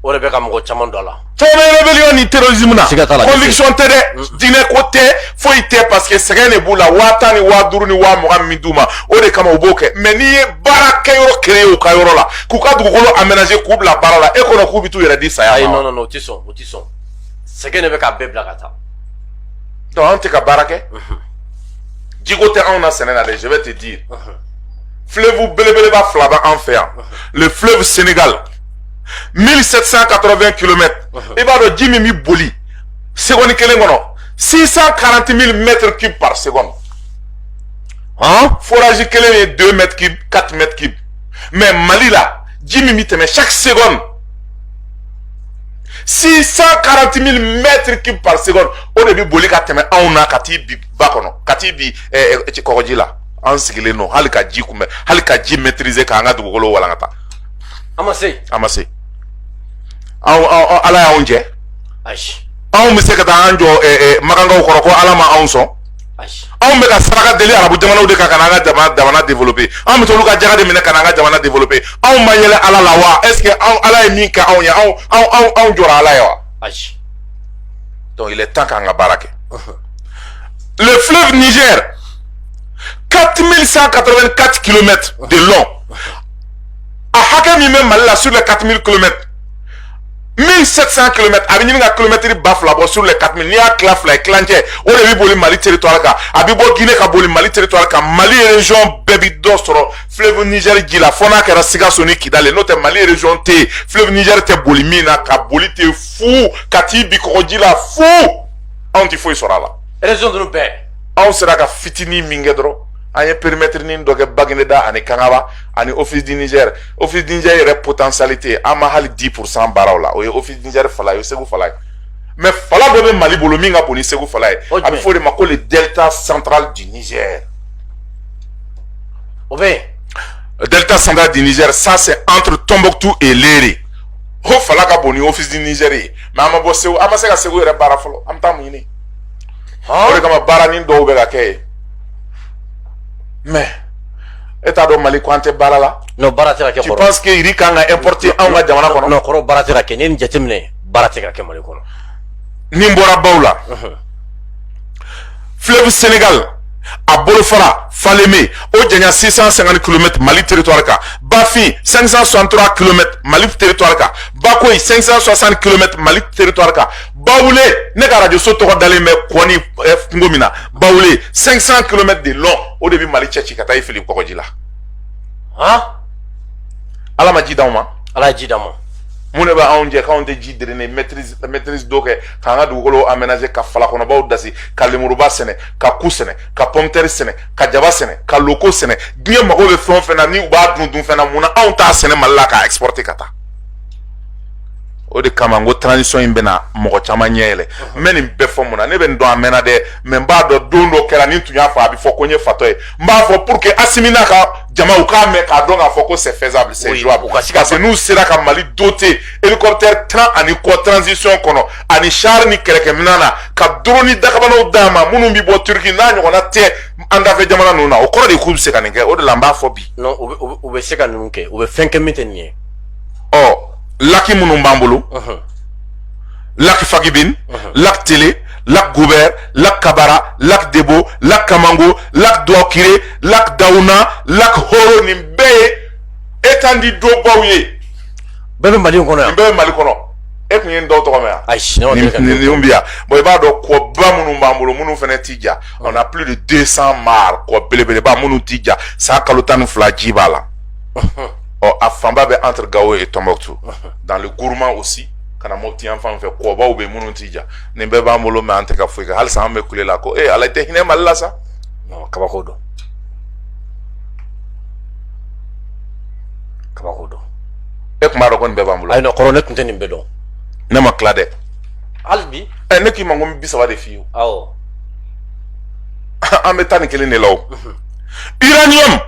o de bɛ ka mɔgɔ caman don a la. comme rébellion ni terrorisme na. siga t'a la conviction tɛ dɛ. Mm. diinɛ ko tɛ foyi tɛ parce que sɛgɛn de b'u la waa tan ni waa duuru ni waa mugan min d'u ma o de kama u b'o kɛ mais n'i ye baarakɛyɔrɔ créer u ka yɔrɔ la. k'u ka dugukolo aménager k'u bila baara la e kɔnɔ k'u bɛ t'u yɛrɛ di saya ma ayi non non non o tɛ sɔn o tɛ sɔn sɛgɛn de bɛ k'a bɛɛ bila ka taa donc anw tɛ ka baara kɛ jiko tɛ anw na sɛnɛ na dɛ je vais te dire fleuve belebeleba fila bɛ an fɛ yan le fleuve Sénégal 1780 km i b'a dɔn ji min bɛ boli seconde kelen kɔnɔ 640 000 mètres cubes par seconde Hein? Forage kelen ye 2 mètres cubes, 4 mètres cubes. mais mali la ji min bɛ tɛmɛ chaque seconde 640 000 mètres cubes par seconde o de bɛ boli ka tɛmɛ anw na ka t'i bin ba kɔnɔ ka t'i bin eh, eh, kɔgɔji la an sigilen don hali ka ji kunbɛn hali ka ji maîtriser k'an ka dugukolo walankata an ma se an ma se ala y'anw jɛ anw bɛ se ka taa an jɔ eh, makankaw kɔrɔ ko ala ma anw sɔn anw bɛ taa saraka deli arabu jamanaw de kan ka n'an ka jamana développer anw bɛ t'olu ka jaka de minɛ ka n'an ka jamana développer anw ma yɛlɛ ala la wa est ce que anw ala ye min kɛ anw ye anw anw anw anw jɔra ala ye wa ayi donc il est temps k'an ka baara kɛ le fleuve niger 4184 kilomètres de long a hakɛ min bɛ mali la sur les 4000 kilomètres 1700 km a bɛ ɲini ka kilomɛtiri ba fila bɔ sur les 4000 n'i y'a tila fila ye tilancɛ o de bɛ boli mali territoire kan a bɛ bɔ guinée ka boli mali territoire kan mali région bɛɛ bɛ dɔ sɔrɔ fleuve niger ji la fo n'a kɛra sikaso ni kidali n'o tɛ mali région tɛ yen fleuve niger tɛ boli min na ka boli ten fu ka t'i bin kɔgɔji la fu anw tɛ foyi sɔrɔ a la. région ninnu bɛɛ. anw sera ka fitinin min kɛ dɔrɔn an ye périmètrenin dɔ kɛ bagineda ani kangaba ani office du niger office du niger yɛrɛ potentialité an ma hali 10 pour cent baara o la o ye office du niger fala ye segu fala ye mais fala dɔ bɛ mali bolo min ka bon ni segu fala ye a bɛ fɔ o de ma ko le delta central du niger o bɛ le delta central du niger ça c'est entre tombouctou et lere o fala ka bon ni office du niger ye mais an ma bɔ segu an ma se ka segu yɛrɛ baara fɔlɔ an bɛ taa mun ɲini o de kama baaranin dɔw bɛ ka kɛ yen mais e t'a dɔn mali ko an tɛ baara la non baara tɛ ka kɛ kɔrɔ est-ce que riz kan ka importer anw ka jamana kɔnɔ non kɔrɔ baara tɛ ka kɛ n'i ye nin jateminɛ baara tɛ ka kɛ mali kɔnɔ ni n bɔra baw la fleuve senegal a bolofara faleme o janya 650 km mali territoire kan bafin 563 km mali territoire kan bakoyi 560 km mali territoire kan bawule ne ka arajo so tɔgɔ dalen bɛ kɔ ni kungo min na bawule 500 kilomètres de long o de bɛ mali cɛ ci ka taa i fili kɔgɔji la han ala ma ji d'anw ma ala ye ji d'an ma mun de b'anw jɛ k'anw tɛ ji drainer maîtrise d'eau kɛ k'an ka dugukolo aménager ka fala kɔnɔ baw dasi ka lemuruba sɛnɛ ka ku sɛnɛ ka pomme terre sɛnɛ ka jaba sɛnɛ ka loko sɛnɛ diɲɛ mago bɛ fɛn o fɛn na ni u b'a dun dunfɛn na mun na anw t'a sɛnɛ mali la k'a exporter ka taa o de kama n ko transition in bɛna mɔgɔ caman ɲɛ yɛlɛ n bɛ nin bɛɛ fɔ mun na ne bɛ nin dɔn a mɛnna dɛ mais n b'a dɔn don dɔ kɛra ni n tun y'a fɔ a bɛ fɔ ko n ye fatɔ ye n b'a fɔ pour que asimi n'a ka jama u k'a mɛn k'a dɔn k'a fɔ ko c'est faisable c'est jouable parce que n'u sera ka mali doter hélicoptère tan ani kɔ transition kɔnɔ ani char ni kɛlɛkɛminɛn na ka drone dakabanaw d'a ma minnu bɛ bɔ turki n'a ɲɔgɔnna tɛ an dafɛ jamana ninnu na o kɔrɔ de k'u bɛ se ka nin kɛ o de la n b'a fɔ bi. non u bɛ se ka ninnu kɛ u bɛ fɛn kɛ min tɛ nin ye. ɔ laki minnu b'an bolo laki fagibin laki tele lac gouber lac kabara lac debo lac kamango lac duwakire lac dawuna lac horo nin bɛɛ ye étendue d'eau baw ye bɛɛ bɛ mali kɔnɔ yan nin bɛɛ bɛ mali kɔnɔ e tun ye nin dɔw tɔgɔ mɛn yan ayi nin bɛ yan bon i b'a dɔn kɔba minnu b'an bolo minnu fana ti ja on a plus de 200 mares kɔ belebeleba minnu ti ja san kalo tan ni fila ji b'a la ɔ a fanba bɛ entre gao et tombouctou dans le gourma aussi ka na mɔpti yan fan fɛ kɔbaw bɛ minnu ti ja nin bɛɛ b'an bolo mais an tɛ ka foyi kɛ halisa an bɛ kule la ko ee ala i tɛ hinɛ mali la sa kabako don kabako don e tun b'a dɔn ko nin bɛɛ b'an bolo ayi kɔrɔ ne tun tɛ nin bɛɛ dɔn ne ma tila dɛ hali bi ɛ ne k'i ma ko n bi saba de f'i ye awɔ an bɛ taa nin kelen de la o uranium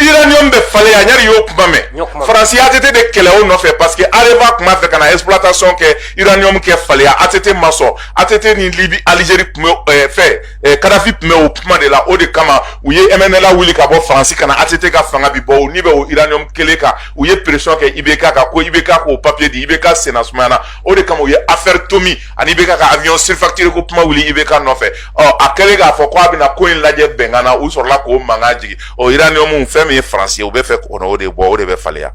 uranium bɛ faleya yali y'o kuma mɛn faransi ATT de kɛlɛ o nɔfɛ parce que Areva tun b'a fɛ ka na exploitation kɛ uranium kɛ faleya ATT ma sɔn ATT ni Libye Algérie tun bɛ eh, fɛ eh, Kadhafi tun bɛ o kuma de la o de kama u ye MNLA wuli ka bɔ faransi ka na ATT ka fanga bin bon nin bɛɛ o uranium kelen kan u ye pression kɛ IBK kan ko IBK k'o papier di IBK senna sumayana o de kama u ye affaire Tomi ani IBK ka avion surfacturé ko kuma wuli IBK nɔfɛ ɔ a kɛlen k'a fɔ ko a bɛna ko in lajɛ bɛnkan na u sɔrɔla k'o mankan jigin ɔ uranium fɛn min ye France ye u b'a fɛ ka n'o de bɔ o de bɛ faleya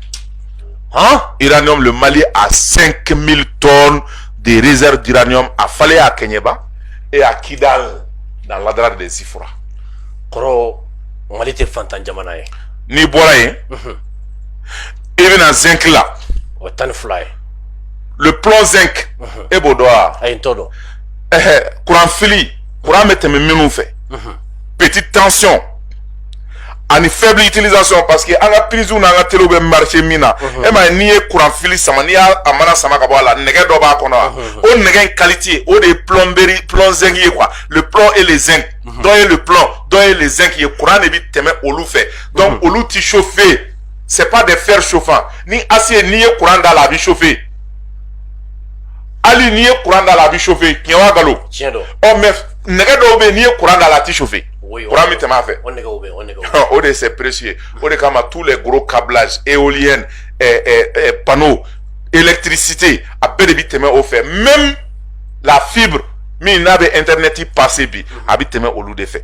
han uranium le Mali a 5000 tonnes de réserve d'uranium à faleya à kɛɲɛba et à Kidal dans l'Adrar des Ifoghas kɔrɔ Mali tɛ fantan jamana ye n'i bɔra yen i bɛ na zinc la o tan ni fila ye le plomb zinc e b'o dɔn wa ayi n t'o dɔn ɛɛ kuran fili kuran bɛ tɛmɛ minnu fɛ petite tension ani faible utilisation parce que an ka prise n'an ka telew bɛ marché min na e ma ye n'i ye kuran fili sama n'i y'a a mana sama ka bɔ a la nɛgɛ dɔ b'a kɔnɔ wa o nɛgɛ in qualité o de ye plomberie plomb zinc ye quoi le plomb et le zinc dɔ ye le plomb dɔ ye le zinc ye kuran de bɛ tɛmɛ olu fɛ donc olu ti chauffer c'est pas des fers chauffants ni acier n'i ye kuran da la a bɛ chauffer hali n'i ye kuran da la a bɛ chauffer tiɲɛ wa nkalon tiɲɛ don ɔ mais nɛgɛ dɔw bɛ yen n'i ye kuran da la a tɛ chauffer kuran bɛ tɛmɛ a fɛ o nɛgɛw bɛ o nɛgɛw o de c'est précieux o de kama tous les gros câblages éoliennes eh, eh, eh, panneaux électricité a bɛɛ de bɛ tɛmɛ o fɛ même la fibre min n'a bɛ internet passer bi a bɛ tɛmɛ olu de fɛ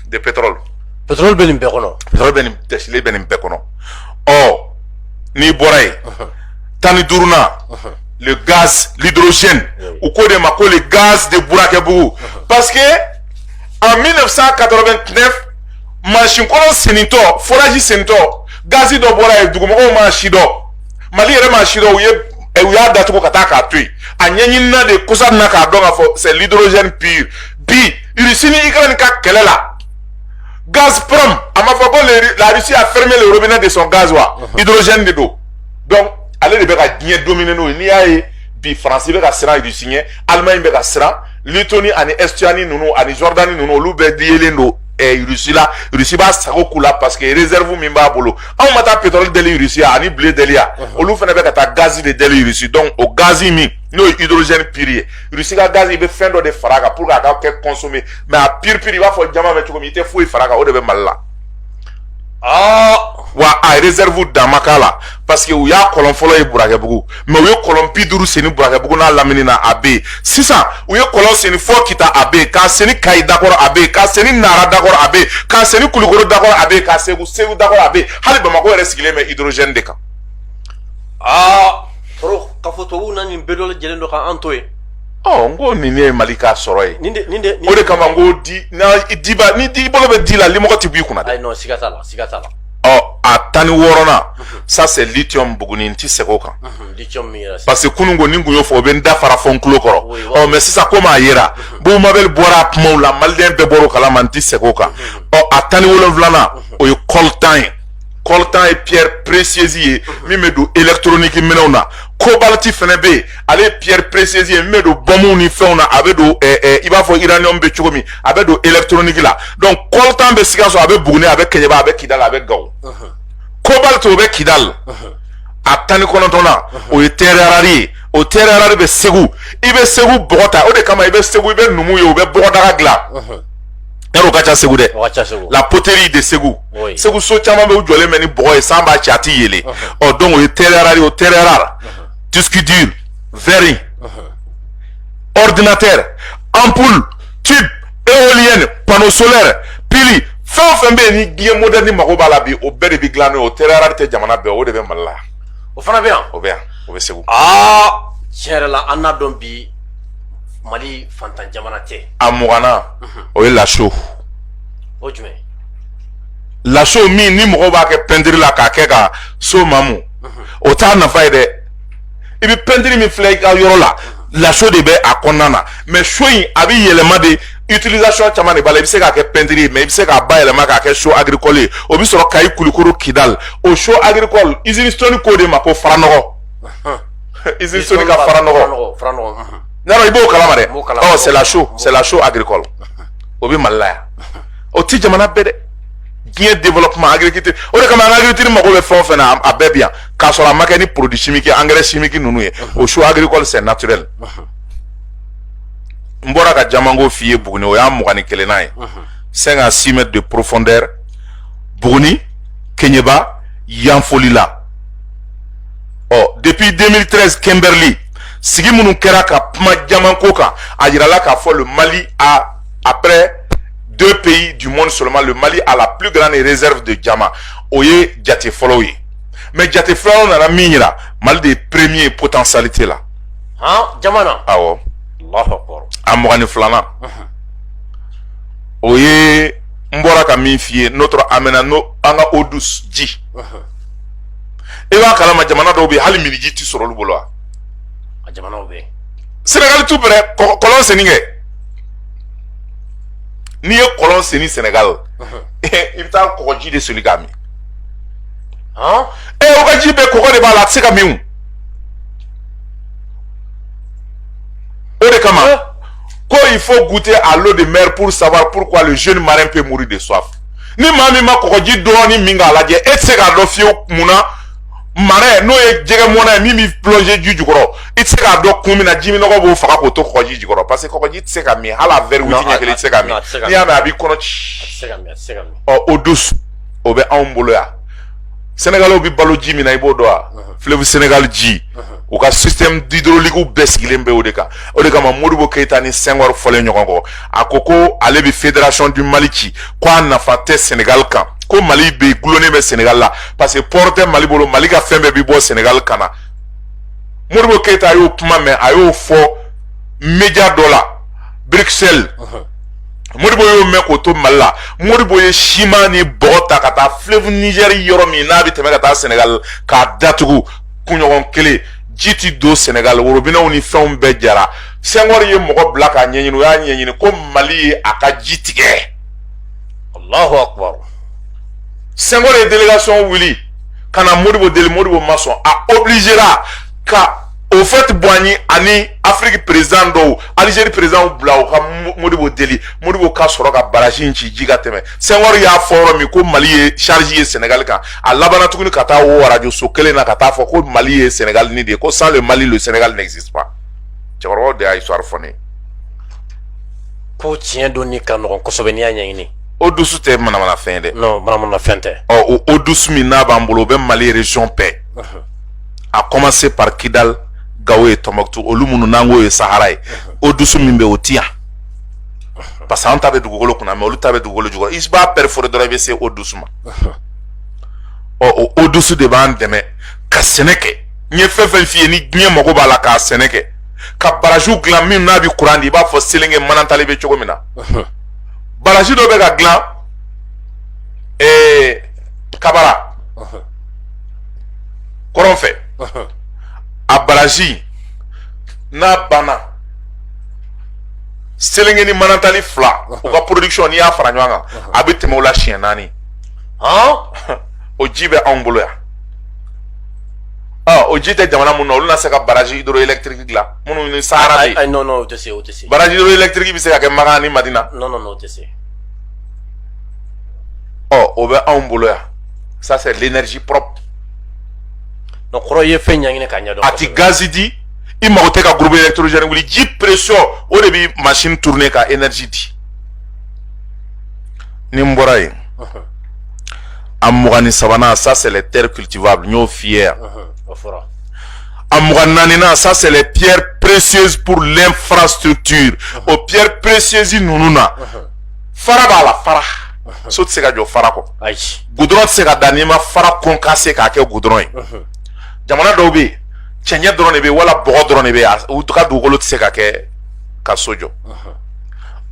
de pétrole pétrole bɛ nin bɛɛ kɔnɔ pétrole bɛ nin dɛsɛlen bɛ nin bɛɛ kɔnɔ ɔ n'i bɔra yen tan ni duurunan le gaz l'hydrogène u k'o de ma ko le gaz de burakɛbugu parce que en 1989 mansin kɔlɔn senitɔ forage senitɔ gazi dɔ bɔra yen dugumɔgɔw m'a sidɔn mali yɛrɛ m'a sidɔn u ye u y'a datugu ka taa k'a to yen a ɲɛɲinina de kɔsa na k'a dɔn k'a fɔ c'est l'hydrogène pur bi irisi ni ukraine ka kɛlɛ la gazprom a ma fɔ ko la russie a fermé le robinet de son gaz wa uh-huh. hydrogène de don donc ale de bɛ ka diɲɛ dominer n'o ye n'i y'a ye bi faransi bɛ ka siran irisi ɲɛ allemagne bɛ ka siran lettonie ani estonie ninnu ani jordanie ninnu olu bɛɛ diyelen don eh, russie la russie b'a sago k'u la parce que réserve min b'a bolo anw ma taa pétrole deli russie ya ani blé deli ya uh-huh. olu fana bɛ ka taa gazi de deli russie donc o gazi min n'o ye hydrogène pur ye Russie ka gaz i bɛ fɛn dɔ de fara a kan pour que a ka kɛ consommer mais a pur pur i b'a fɔ jaman bɛ cogo min i tɛ foyi fara a kan o de bɛ Mali la. Ah! wa a réserve dan ma k'a la parce que u y'a kɔlɔn fɔlɔ ye burakɛbugu mais u ye kɔlɔn bi duuru senni burakɛbugu n'a lamini na a bɛ yen sisan u ye kɔlɔn senni fɔ kita a bɛ yen k'a senni kayi dakɔrɔ a bɛ yen k'a senni nara dakɔrɔ a bɛ yen k'a senni kulukoro dakɔrɔ a bɛ yen k'a segu segu dakɔrɔ a bɛ yen hali bamakɔ yɛrɛ sigilen bɛ hydrogène de kan aa ah! Tɔɔrɔ k'a fɔ tubabu na nin bɛɛ dɔ lajɛlen don k'an to yen n ko nin ye mali ka sɔrɔ ye nin o de kama n ko di diba n'i bolo bɛ di la limɔgɔ tɛ b'i kunna dɛ siga t'a la siga t'a la ɔ a tan ni wɔɔrɔnan ça c'est lithium buguni n tɛ segin o kan parce que kunun ko ni n kun y'o fɔ o bɛ n da fara fɔ n tulo kɔrɔ ɔ mɛ sisan komi a yera bubu mabɛli bɔra a kumaw la maliden bɛɛ bɔra o kalama n tɛ segin o kan ɔ a tan ni wolonwulanan o ye coltan ye coltan ye pierre précieuse ye min bɛ don électronique minɛnw na cobalt fana bɛ yen ale ye pierre précieuse ye min bɛ don bɔnmuw ni fɛnw na a bɛ don ɛɛ ɛɛ i b'a fɔ uranium bɛ cogo min a bɛ don électronique la donc coltan bɛ sikaso a bɛ buguni a bɛ kɛɲɛba a bɛ kidali a bɛ gawo cobalt o bɛ kidali a tan ni kɔnɔntɔnnan o ye terre rare ye o terre rare bɛ segu i bɛ segu bɔgɔ ta o de kama i bɛ segu i bɛ numu ye u bɛ bɔgɔdaga dilan yɛrɛ o ka ca segu dɛ la poterie de segu segu so caman bɛ u jɔlen bɛ ni bɔgɔ ye san b'a ci a tɛ yeele ɔ donc o ye terre rare o terre rare disque dur verre ordinateur ampoule tube éolienne panneau solaire pili fɛn o fɛn bɛ yen ni diɲɛ moderne mago b'a la bi o bɛɛ de bɛ dilan n'o ye o terre rare tɛ jamana bɛɛ o de bɛ mali la o fana bɛ yan o bɛ yan o bɛ segu aa tiɲɛ yɛrɛ la an n'a dɔn bi mali fantan jamana tɛ a mugannan o ye la chaux o jumɛn la chaux min ni mɔgɔw b'a kɛ pɛntiri la k'a kɛ ka so mamu o t'a nafa ye dɛ i bɛ pɛntiri min filɛ i ka yɔrɔ la la chaux de bɛ a kɔnɔna na mɛ chaux in a bɛ yɛlɛma de utilisation caman de b'a la i bɛ se k'a kɛ pɛntiri ye mɛ i bɛ se k'a bayɛlɛma k'a kɛ chaux agricole ye o bɛ sɔrɔ kayi kulukoro kidali o chaux agricole usine stones k'o de ma ko faranɔgɔ usine stones ka faranɔgɔ n'a dɔn i b'o kalama dɛ ɔ c'est la chaux c'est la chaux agricole o bɛ mali la yan. o ti jamana bɛɛ dɛ diɲɛ développement agriculture o de kama an ka agriculture mago bɛ fɛn o fɛn na a bɛɛ bi yan k'a sɔrɔ a ma kɛ ni produit chimique engrais chimique ninnu ye o chaux agricole c'est naturel n bɔra ka jamanko f'i ye buguni o y'a mugan ni kelennan ye cinq à six mètres de profondeur buguni kɛɲɛba yanfolila ɔ depuis 2013 kimberley sigi minnu kɛra ka kuma jamanko kan a yirala k'a fɔ le mali a après deux pays du monde seulement le Mali a la plus grande réserve de diamants o ye jate fɔlɔw ye mais jate filanan nana min yira Mali de ye premier potentialité la han diamant na awɔ Allahu akbar a mugan ni filanan o ye n bɔra ka min f'i ye notre amena n'o an ka eau douce ji i b'a kalama jamana dɔw bɛ yen hali minniji tɛ sɔrɔ olu bolo wa a jamanaw bɛ yen Sénégal tout près kɔ- kɔlɔn senni kɛ n'i ye kɔlɔn sen ni Sénégal i bɛ taa kɔgɔji de soli k'a min ee o ka ji bɛɛ kɔgɔ de b'a la a tɛ se ka min o de kama ko il faut goûter à l'eau de mer pour savoir pourquoi le jeune marin peut mourir de soif ni maa min ma kɔgɔji dɔɔni min k'a lajɛ e tɛ se k'a dɔn fiyewu mun na marin n'o ye jɛgɛ mɔnna ye min bɛ plonger ji jukɔrɔ i tɛ se k'a dɔn kun min na ji minnɔgɔ b'o faga k'o to kɔgɔji jukɔrɔ parce que kɔgɔji tɛ se ka min hali a verre huit ɲɛ kelen tɛ se ka min n'i y'a min a b'i kɔnɔ ci ɔ eau douce o bɛ anw bolo yan sɛnɛgaliw bɛ balo ji min na i b'o dɔn wa fleuve Sénégal ji u ka système hydraulique bɛɛ sigilen bɛ o de kan o de kama Modibo Keita ni Senghor fɔlen ɲɔgɔn kɔ a ko ko ale bɛ fédération du Mali ci ko a nafa tɛ Sénégal kan ko Mali bɛ gulonnen bɛ Sénégal la parce que port tɛ Mali bolo Mali ka fɛn bɛɛ bɛ bɔ Sénégal ka na Modibo Keita y'o kuma mɛn a y'o fɔ média dɔ la Bruxelles Modibo y'o mɛn k'o to Mali la Modibo ye siman ni bɔgɔ ta ka taa fleuve Niger yɔrɔ min n'a bɛ tɛmɛ ka taa Sénégal k'a datugu kunɲɔgɔn kelen ji ti don Sénégal worobinɛw ni fɛnw bɛɛ jara Senghor ye mɔgɔ bila k'a ɲɛɲini u y'a ɲɛɲini ko mali ye a ka ji tigɛ allahu akbar Senghor ye délégation wuli ka na modibo deli modibo ma sɔn a obligera ka Houphouët-Boigny ani Afrique président dɔw Algérie présidentw bila u ka modibo deli modibo ka sɔrɔ ka barrage in ci ji ka tɛmɛ Senghor y'a fɔ yɔrɔ min ko mali ye charge ye senegal kan a labanna tuguni ka taa o arajo so kelen na ka taa fɔ ko mali ye senegal ni de ye ko sans le mali le senegal n'existe pas cɛkɔrɔbaw de y'a histoire fɔ ne ye ko tiɲɛ dɔnni ka nɔgɔn kosɛbɛ n'i y'a ɲɛɲini eau douce tɛ manamanafɛn ye dɛ non manamanafɛn tɛ ɔ o eau douce min n'a b'an bolo o bɛ mali région bɛɛ a commencer par kidal Gao et Tombouctou olu minnu n'an k'o ye sahara ye eau douce min bɛ o ti yan parce que an ta bɛ dugukolo kunna mais olu ta bɛ dugukolo jukɔrɔ i b'a perforer dɔrɔn i bɛ se eau douce ma ɔ o eau douce de b'an dɛmɛ ka sɛnɛ kɛ n ye fɛn fɛn f'i ye ni diɲɛ mago b'a la ka sɛnɛ kɛ ka baraziw dilan min n'a bɛ kuran di i b'a fɔ selenge manantali bɛ cogo min na barazi dɔ bɛ ka dilan ee kabara kɔrɔn fɛ a barazi n'a banna selenge ni manantali fila u ka production n'i y'a fara ɲɔgɔn kan a bɛ tɛmɛ o la siɲɛ naani o ji bɛ anw bolo yan o ji tɛ jamana mun na olu na se ka baraji hydroélectrique dilan minnu ni sahara bɛ yen non non o tɛ se o tɛ se baraji hydroélectrique bɛ se ka kɛ makan ni madina non non non o tɛ se ɔ o bɛ anw bolo yan ça c'est l'énergie propre donc kɔrɔ i ye fɛn ɲɛɲini k'a ɲɛdɔn a tɛ gazi di i mago tɛ ka groupe électrogène wuli ji pression o de bi machine tourner ka énergie di ni n bɔra yen a mugan ni sabanan ça c'est les terres cultivables n y'o f'i ye yan a mugan naaninan ça c'est les pierres précieuses pour l'infrastructure o pierres précieuses ninnu na fara b'a la fara so tɛ se ka jɔ fara kɔ goudron tɛ se ka da n'i ma fara concassé k'a kɛ goudron ye jamana dɔw bɛ yen cɛncɛn dɔrɔn de bɛ wala bɔgɔ dɔrɔn de bɛ u ka dugukolo tɛ se ka kɛ ka so jɔ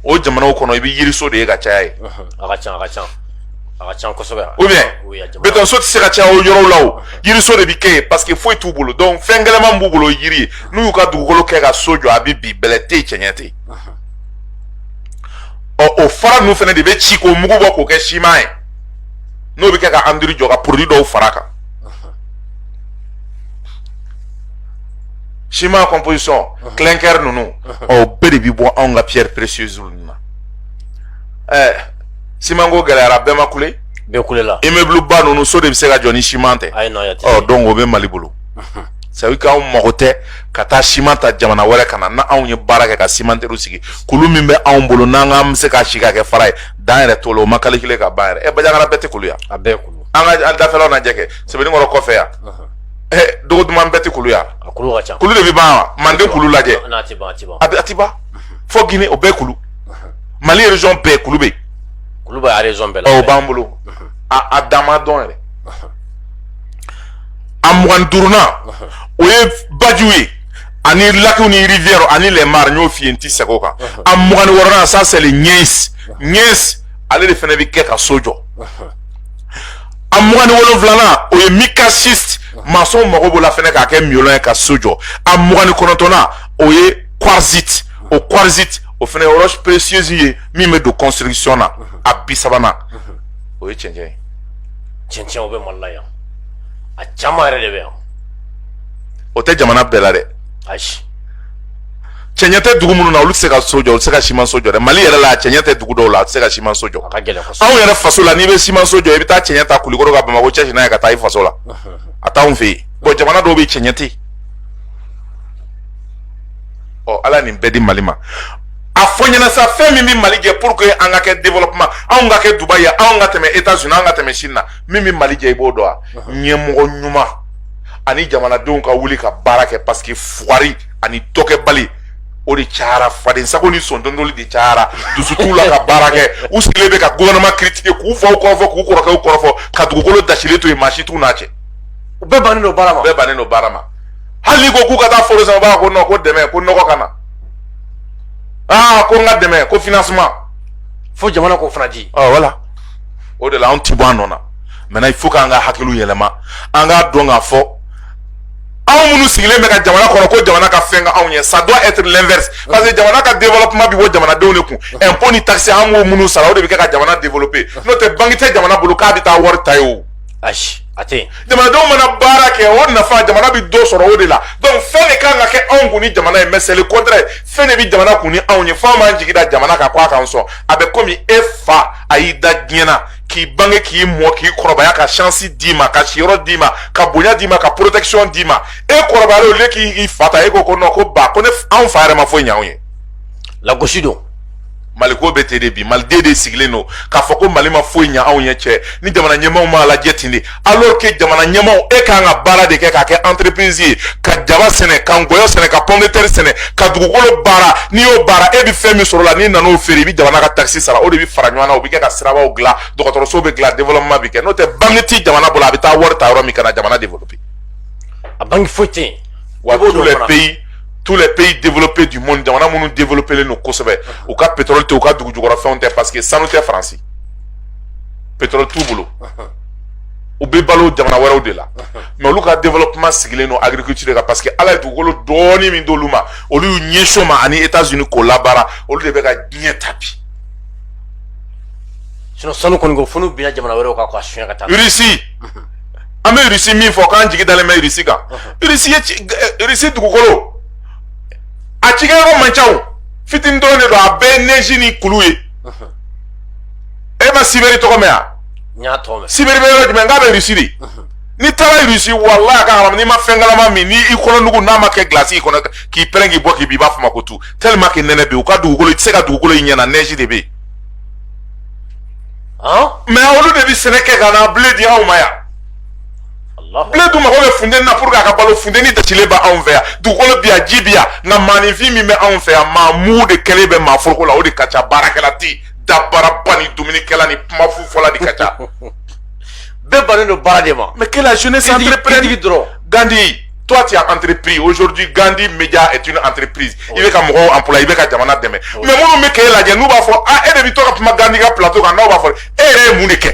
o jamanaw kɔnɔ i bɛ yiriso de ye ka caya ye a ka ca a ka ca a ka ca kosɛbɛ ou bien betɔnso tɛ se ka caya o yɔrɔw la o yiriso de bɛ kɛ yen parce que foyi t'u bolo donc fɛn gɛlɛman b'u bolo yiri ye n'u y'u ka dugukolo kɛ ka so jɔ a bɛ bin bɛlɛ tɛ yen cɛncɛn tɛ yen ɔ o fara ninnu fana de bɛ ci k'o mugu bɔ k'o kɛ siman ye n'o bɛ kɛ ka en dur jɔ ka produit dɔw fara a kan siman composition clinker ninnu ɔ bɛɛ de bɛ bɔ anw ka pierre précieuse ninnu na ɛɛ siman ko gɛlɛyara bɛɛ ma kule bɛɛ kulela immeubleba ninnu so de bɛ se ka jɔ ni siman tɛ ɔ donc o bɛ mali bolo sabu k'anw mago tɛ ka taa siman ta jamana wɛrɛ ka na n' anw ye baara kɛ ka cimenteriew sigi kulu min bɛ anw bolo n'an k'an bɛ se k'a si ka kɛ fara ye dan yɛrɛ t'o la o ma calculer ka ban yɛrɛ ɛ banjagara bɛɛ tɛ kulu yan a bɛɛ kulu an ka an dafɛlaw lajɛ kɛ sɛbɛnnikɔrɔ kɔfɛ yan dogoduman bɛɛ tɛ kulu yan kulu de bɛ ban wa manden kulu lajɛ a ti ban fo gine o bɛɛ kulu mali région bɛɛ kulu bɛ kulu bɛ région bɛɛ la o b'an bolo a dan ma dɔn yɛrɛ a mugan duurunan o ye bajiw ye ani lakiw ni rivière ani les mares n y'o f'i ye n ti segin o kan a mugan ni wɔɔrɔnan ça c'est le gneiss gneiss ale de fana bɛ kɛ ka so jɔ a mugan ni wolonwulanan o ye micaschiste masɔnw mago b'o la fɛnɛ k'a kɛ moellon ye ka so jɔ a mugan ni kɔnɔntɔnnan o ye quartzite o quartzite o fɛnɛ ye roche précieuse ye min bɛ don construction na a bi sabanan o ye cɛncɛn ye cɛncɛn o bɛ mali la yan a caman yɛrɛ de bɛ yan o tɛ jamana bɛɛ la dɛ ayi cɛncɛn tɛ dugu minnu na olu tɛ se ka so jɔ olu tɛ se ka simanso jɔ dɛ mali yɛrɛ la cɛncɛn tɛ dugu dɔw la a tɛ se ka simanso jɔ anw yɛrɛ faso la n'i bɛ simanso jɔ i bɛ taa cɛncɛn ta kulikoro ka bamakɔ cɛci n'a ye ka taa i faso la a t'anw fɛ yen bon jamana dɔw bɛ yen cɛncɛn tɛ yen ala nin bɛɛ di mali ma a fɔ n ɲɛna sa fɛn min bɛ mali jɛ pour que an ka kɛ développement anw ka kɛ dubaï ye anw ka tɛmɛ états unis anw ka tɛmɛ chine na min bɛ mali jɛ i b'o dɔn wa ɲɛmɔgɔ ɲuman ani jamanadenw ka wuli ka baara kɛ parce que fugari ani dɔkɛbali o de cayara fadensago ni sɔntɔntɔli de cayara dusu t'u la ka baara kɛ u sigilen bɛ ka gouvernement critiquer k'u faw kɔrɔfɔ k'u kɔrɔkɛw kɔrɔfɔ ka dugukolo dasilen to yen maa si t'u n'a cɛ u bɛɛ bannen don baara ma bɛɛ bannen don baara ma hali n'i ko k'u ka taa foro sɛnɛ u b'a fɔ ko non ko dɛmɛ ko nɔgɔ ka na aa ko n ka dɛmɛ ko financement fo jamana k'o fana di voilà o de la anw ti bɔ an nɔ na maintenant il faut k'an ka hakiliw yɛlɛma an k'a dɔn k'a fɔ anw minnu sigilen bɛ ka jamana kɔnɔ ko jamana ka fɛn kɛ anw ye ça doit être l'inverse parce que jamana ka développement bɛ bɔ jamanadenw de kun impôt ni taxe an b'o minnu sara o de bɛ kɛ ka jamana développer n'o tɛ banque tɛ jamana bolo k'a bɛ taa wari ta yen o. ayi a tɛ yen. jamanadenw mana baara kɛ o nafa jamana bɛ dɔ sɔrɔ o de la donc fɛn de kan ka kɛ anw kun ni jamana ye mais c'est le contraire fɛn de bɛ jamana kun ni anw ye f'an b'an jigi da jamana kan k'a k'an sɔn a bɛ komi e fa a y'i da diɲɛ na. k'i bange k'i mɔ k'i kɔrɔbaya ka chance d'i ma ka siyɔrɔ d'i ma ka bonya d'i ma ka protection d'i ma e kɔrɔbayalen au lieu k'i fa ta e ko ko non ko ba ko ne anw fa yɛrɛ ma foyi ɲ'anw ye lagosi don maliko bɛ ten de bi maliden de sigilen don k'a fɔ ko mali ma foyi ɲa anw ye cɛ ni jamana ɲɛmaaw m'a lajɛ ten de alors que jamana ɲɛmaaw e kan ka baara de kɛ k'a kɛ entreprise ye ka jaba sɛnɛ ka ngɔyɔ sɛnɛ ka pomme de terre sɛnɛ ka dugukolo baara n'i y'o baara e bɛ fɛn min sɔrɔ la n'i nana o feere i bɛ jamana ka taxe sara o de bɛ fara ɲɔgɔn na o bɛ kɛ ka sirabaw dilan dɔgɔtɔrɔso bɛ dilan développement bɛ kɛ n'o tɛ banque ti jamana bolo a bɛ taa wari ta yɔrɔ min ka na jamana développer a banque foyi tɛ yen wa tous les pays tous les pays développés du monde jamana minnu développé len don kosɛbɛ u ka pétrole tɛ u ka dugu jukɔrɔfɛnw tɛ parce que sanu tɛ faransi pétrole t'u bolo u bɛ balo jamana wɛrɛw de la mais olu ka development sigilen don agriculture kan parce que ala ye dugukolo dɔɔni min d'olu ma olu y'u ɲɛsin o ma ani États-Unis k'o labaara olu de bɛ ka diɲɛ ta bi sinon sanu kɔni ko fo n'u binna jamana wɛrɛw kan k'a suɲɛ ka taa Russie an bɛ Russie min fɔ k'an jigi dalen bɛ Russie kan Russie ye eh, Russie dugukolo a cikɛyɔrɔ man ca o fitini dɔrɔn de don a bɛɛ ye neige ni kulu ye e ma Sibɛri tɔgɔ mɛn wa n y'a tɔgɔ mɛn siberi bɛ yɔrɔ jumɛn k'a bɛ irisi de n'i taara irisi walayi a ka haramu n'i ma fɛn kalama min ni i kɔnɔnugu n'a ma kɛ gilasi i kɔnɔ k'i pɛrɛn k'i bɔ k'i bin i b'a fɔ ma ko tu tellement que nɛnɛ bi u ka dugukolo i tɛ se ka dugukolo i ɲɛ na neige de bɛ yen mais olu de bɛ sɛnɛ kɛ ka na blé di anw ma yan blé dun mago bɛ funteni na pour que a ka balo funteni dasilen bɛ anw fɛ yan dugukolo bi yan ji bi yan nka maaninfin min bɛ anw fɛ yan maa mugu de kɛlen bɛ maa foroko la o de ka ca baarakɛla tɛ yen dabaraba ni dumunikɛla ni kuma fu fɔla de ka ca bɛɛ bannen don baara de ma mais que la jeunesse entreprenne dɔrɔn Gandhi toi tu as entrepris aujourd'hui Gandhi Media est une entreprise i bɛ ka mɔgɔw employer i bɛ ka jamana dɛmɛ mais minnu bɛ k'e lajɛ n'u b'a fɔ ah e de bɛ to ka kuma Gandhi ka plateau kan n'aw b'a fɔ e yɛrɛ ye mun de kɛ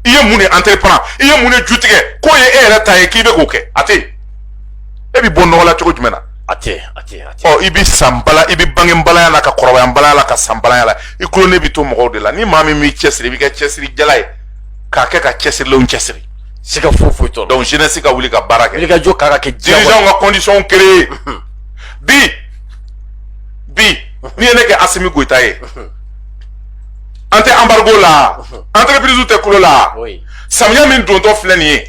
i ye mun de entreprendre i ye mun de ju tigɛ k'o ye e yɛrɛ ta ye k'i bɛ k'o kɛ a tɛ yen e bɛ bɔ nɔgɔ la cogo jumɛn na a tɛ a tɛ a tɛ ɔ i bɛ san bala i bɛ bange balaya la ka kɔrɔbaya balaya la ka sa balaya la i dulonnen bɛ to mɔgɔw de la ni maa min b'i cɛsiri i bɛ kɛ cɛsiri jala ye k'a kɛ ka cɛsirilenw cɛsiri siga foyi foyi t'o rɔ donc jeunesse ka wuli ka baara kɛ wulikajɔ kan ka kɛ dirigeant ka condition créer bi bi n'i ye ne kɛ Asimi Goyita ye an tɛ embargo la entreprise tɛ kulo la samiya min dontɔ filɛ nin ye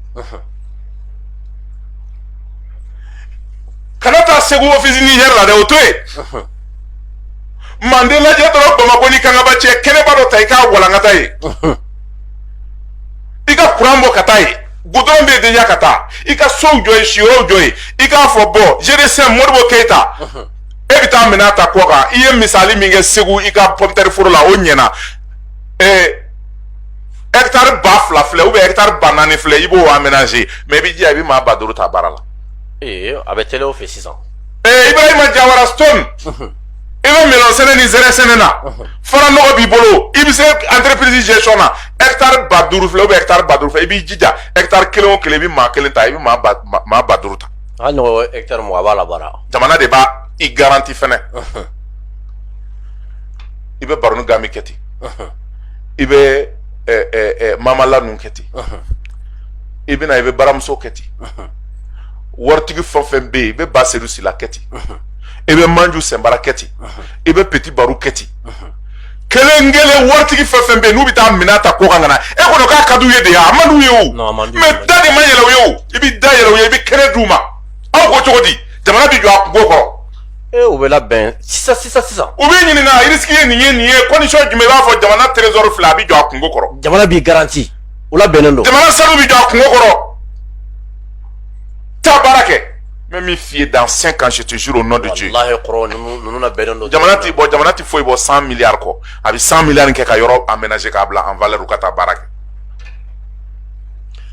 kana taa segu ofisi nizɛri la dɛ o to yen manden lajɛ dɔrɔn bamakɔ ni kangaba cɛ kɛnɛba dɔ ta i k'a walankata yen i ka kuran bɔ ka taa yen gudɔrɔn bɛ deja ka taa i ka sow jɔ yen siyɔrɔw jɔ yen i k'a fɔ bon gdcm modibo keyita e bɛ taa minɛn ta kɔkan i ye misali min kɛ segu i ka pɔmtɛri foro la o ɲɛna ɛɛ ɛkitari ba fila filɛ ubiyɛn ɛkitari ba naani filɛ i b'o amenaze mais i b'i jija i bɛ maa ba duuru ta baara la. ee a bɛ tɛlɛ o fɛ sisan. ee ibrahima jawara stone. i bɛ melɔn sɛnɛ ni zɛrɛ sɛnɛ na faranɔgɔ b'i bolo i bɛ se entreprise gestion na ɛkitari ba duuru filɛ ubiyɛn ɛkitari ba duuru filɛ i b'i jija ɛkitari kelen o kelen i bɛ maa kelen ta i bɛ maa ba maa ba duuru ta. hali n'o ɛkitari mugan a b'a la baara. jamana de b'a i garanti fɛnɛ i bɛ baroni ganbi kɛ ten. i bɛ mama la ninnu kɛ ten i bɛ na i bɛ baramuso kɛ ten waritigi fɛn fɛn bɛ yen i bɛ baseyidu sila kɛ ten i bɛ manju sinpara kɛ ten i bɛ peti baru kɛ ten kelen kelen waritigi fɛn fɛn bɛ yen n'u bɛ taa minɛn ta kɔkan ka na e kɔnɔ k'a ka d'u ye de wa a man d'u ye o mais da de ma yɛlɛ u ye o i bɛ da yɛlɛ u ye i bɛ kɛnɛ d'u ma aw ko cogo di jamana bɛ jɔ a kungo kɔrɔ ee o bɛ labɛn sisan sisan sisan u bɛ ɲininka risque ye nin ye nin ye condition jumɛn i b'a fɔ jamana trésor filɛ a bɛ jɔ a kungo kɔrɔ jamana b'i garanti o labɛnnen don jamana sanu bɛ jɔ a kungo kɔrɔ taa baara kɛ n bɛ min f'i ye dans cinq ans je te jure au nom de Dieu walahi kɔrɔ ninnu ninnu labɛnnen don jamana tɛ bɔ jamana tɛ foyi bɔ cent milliards kɔ a bɛ cent milliards kɛ ka yɔrɔ aménager k'a bila en valeur u ka taa baara kɛ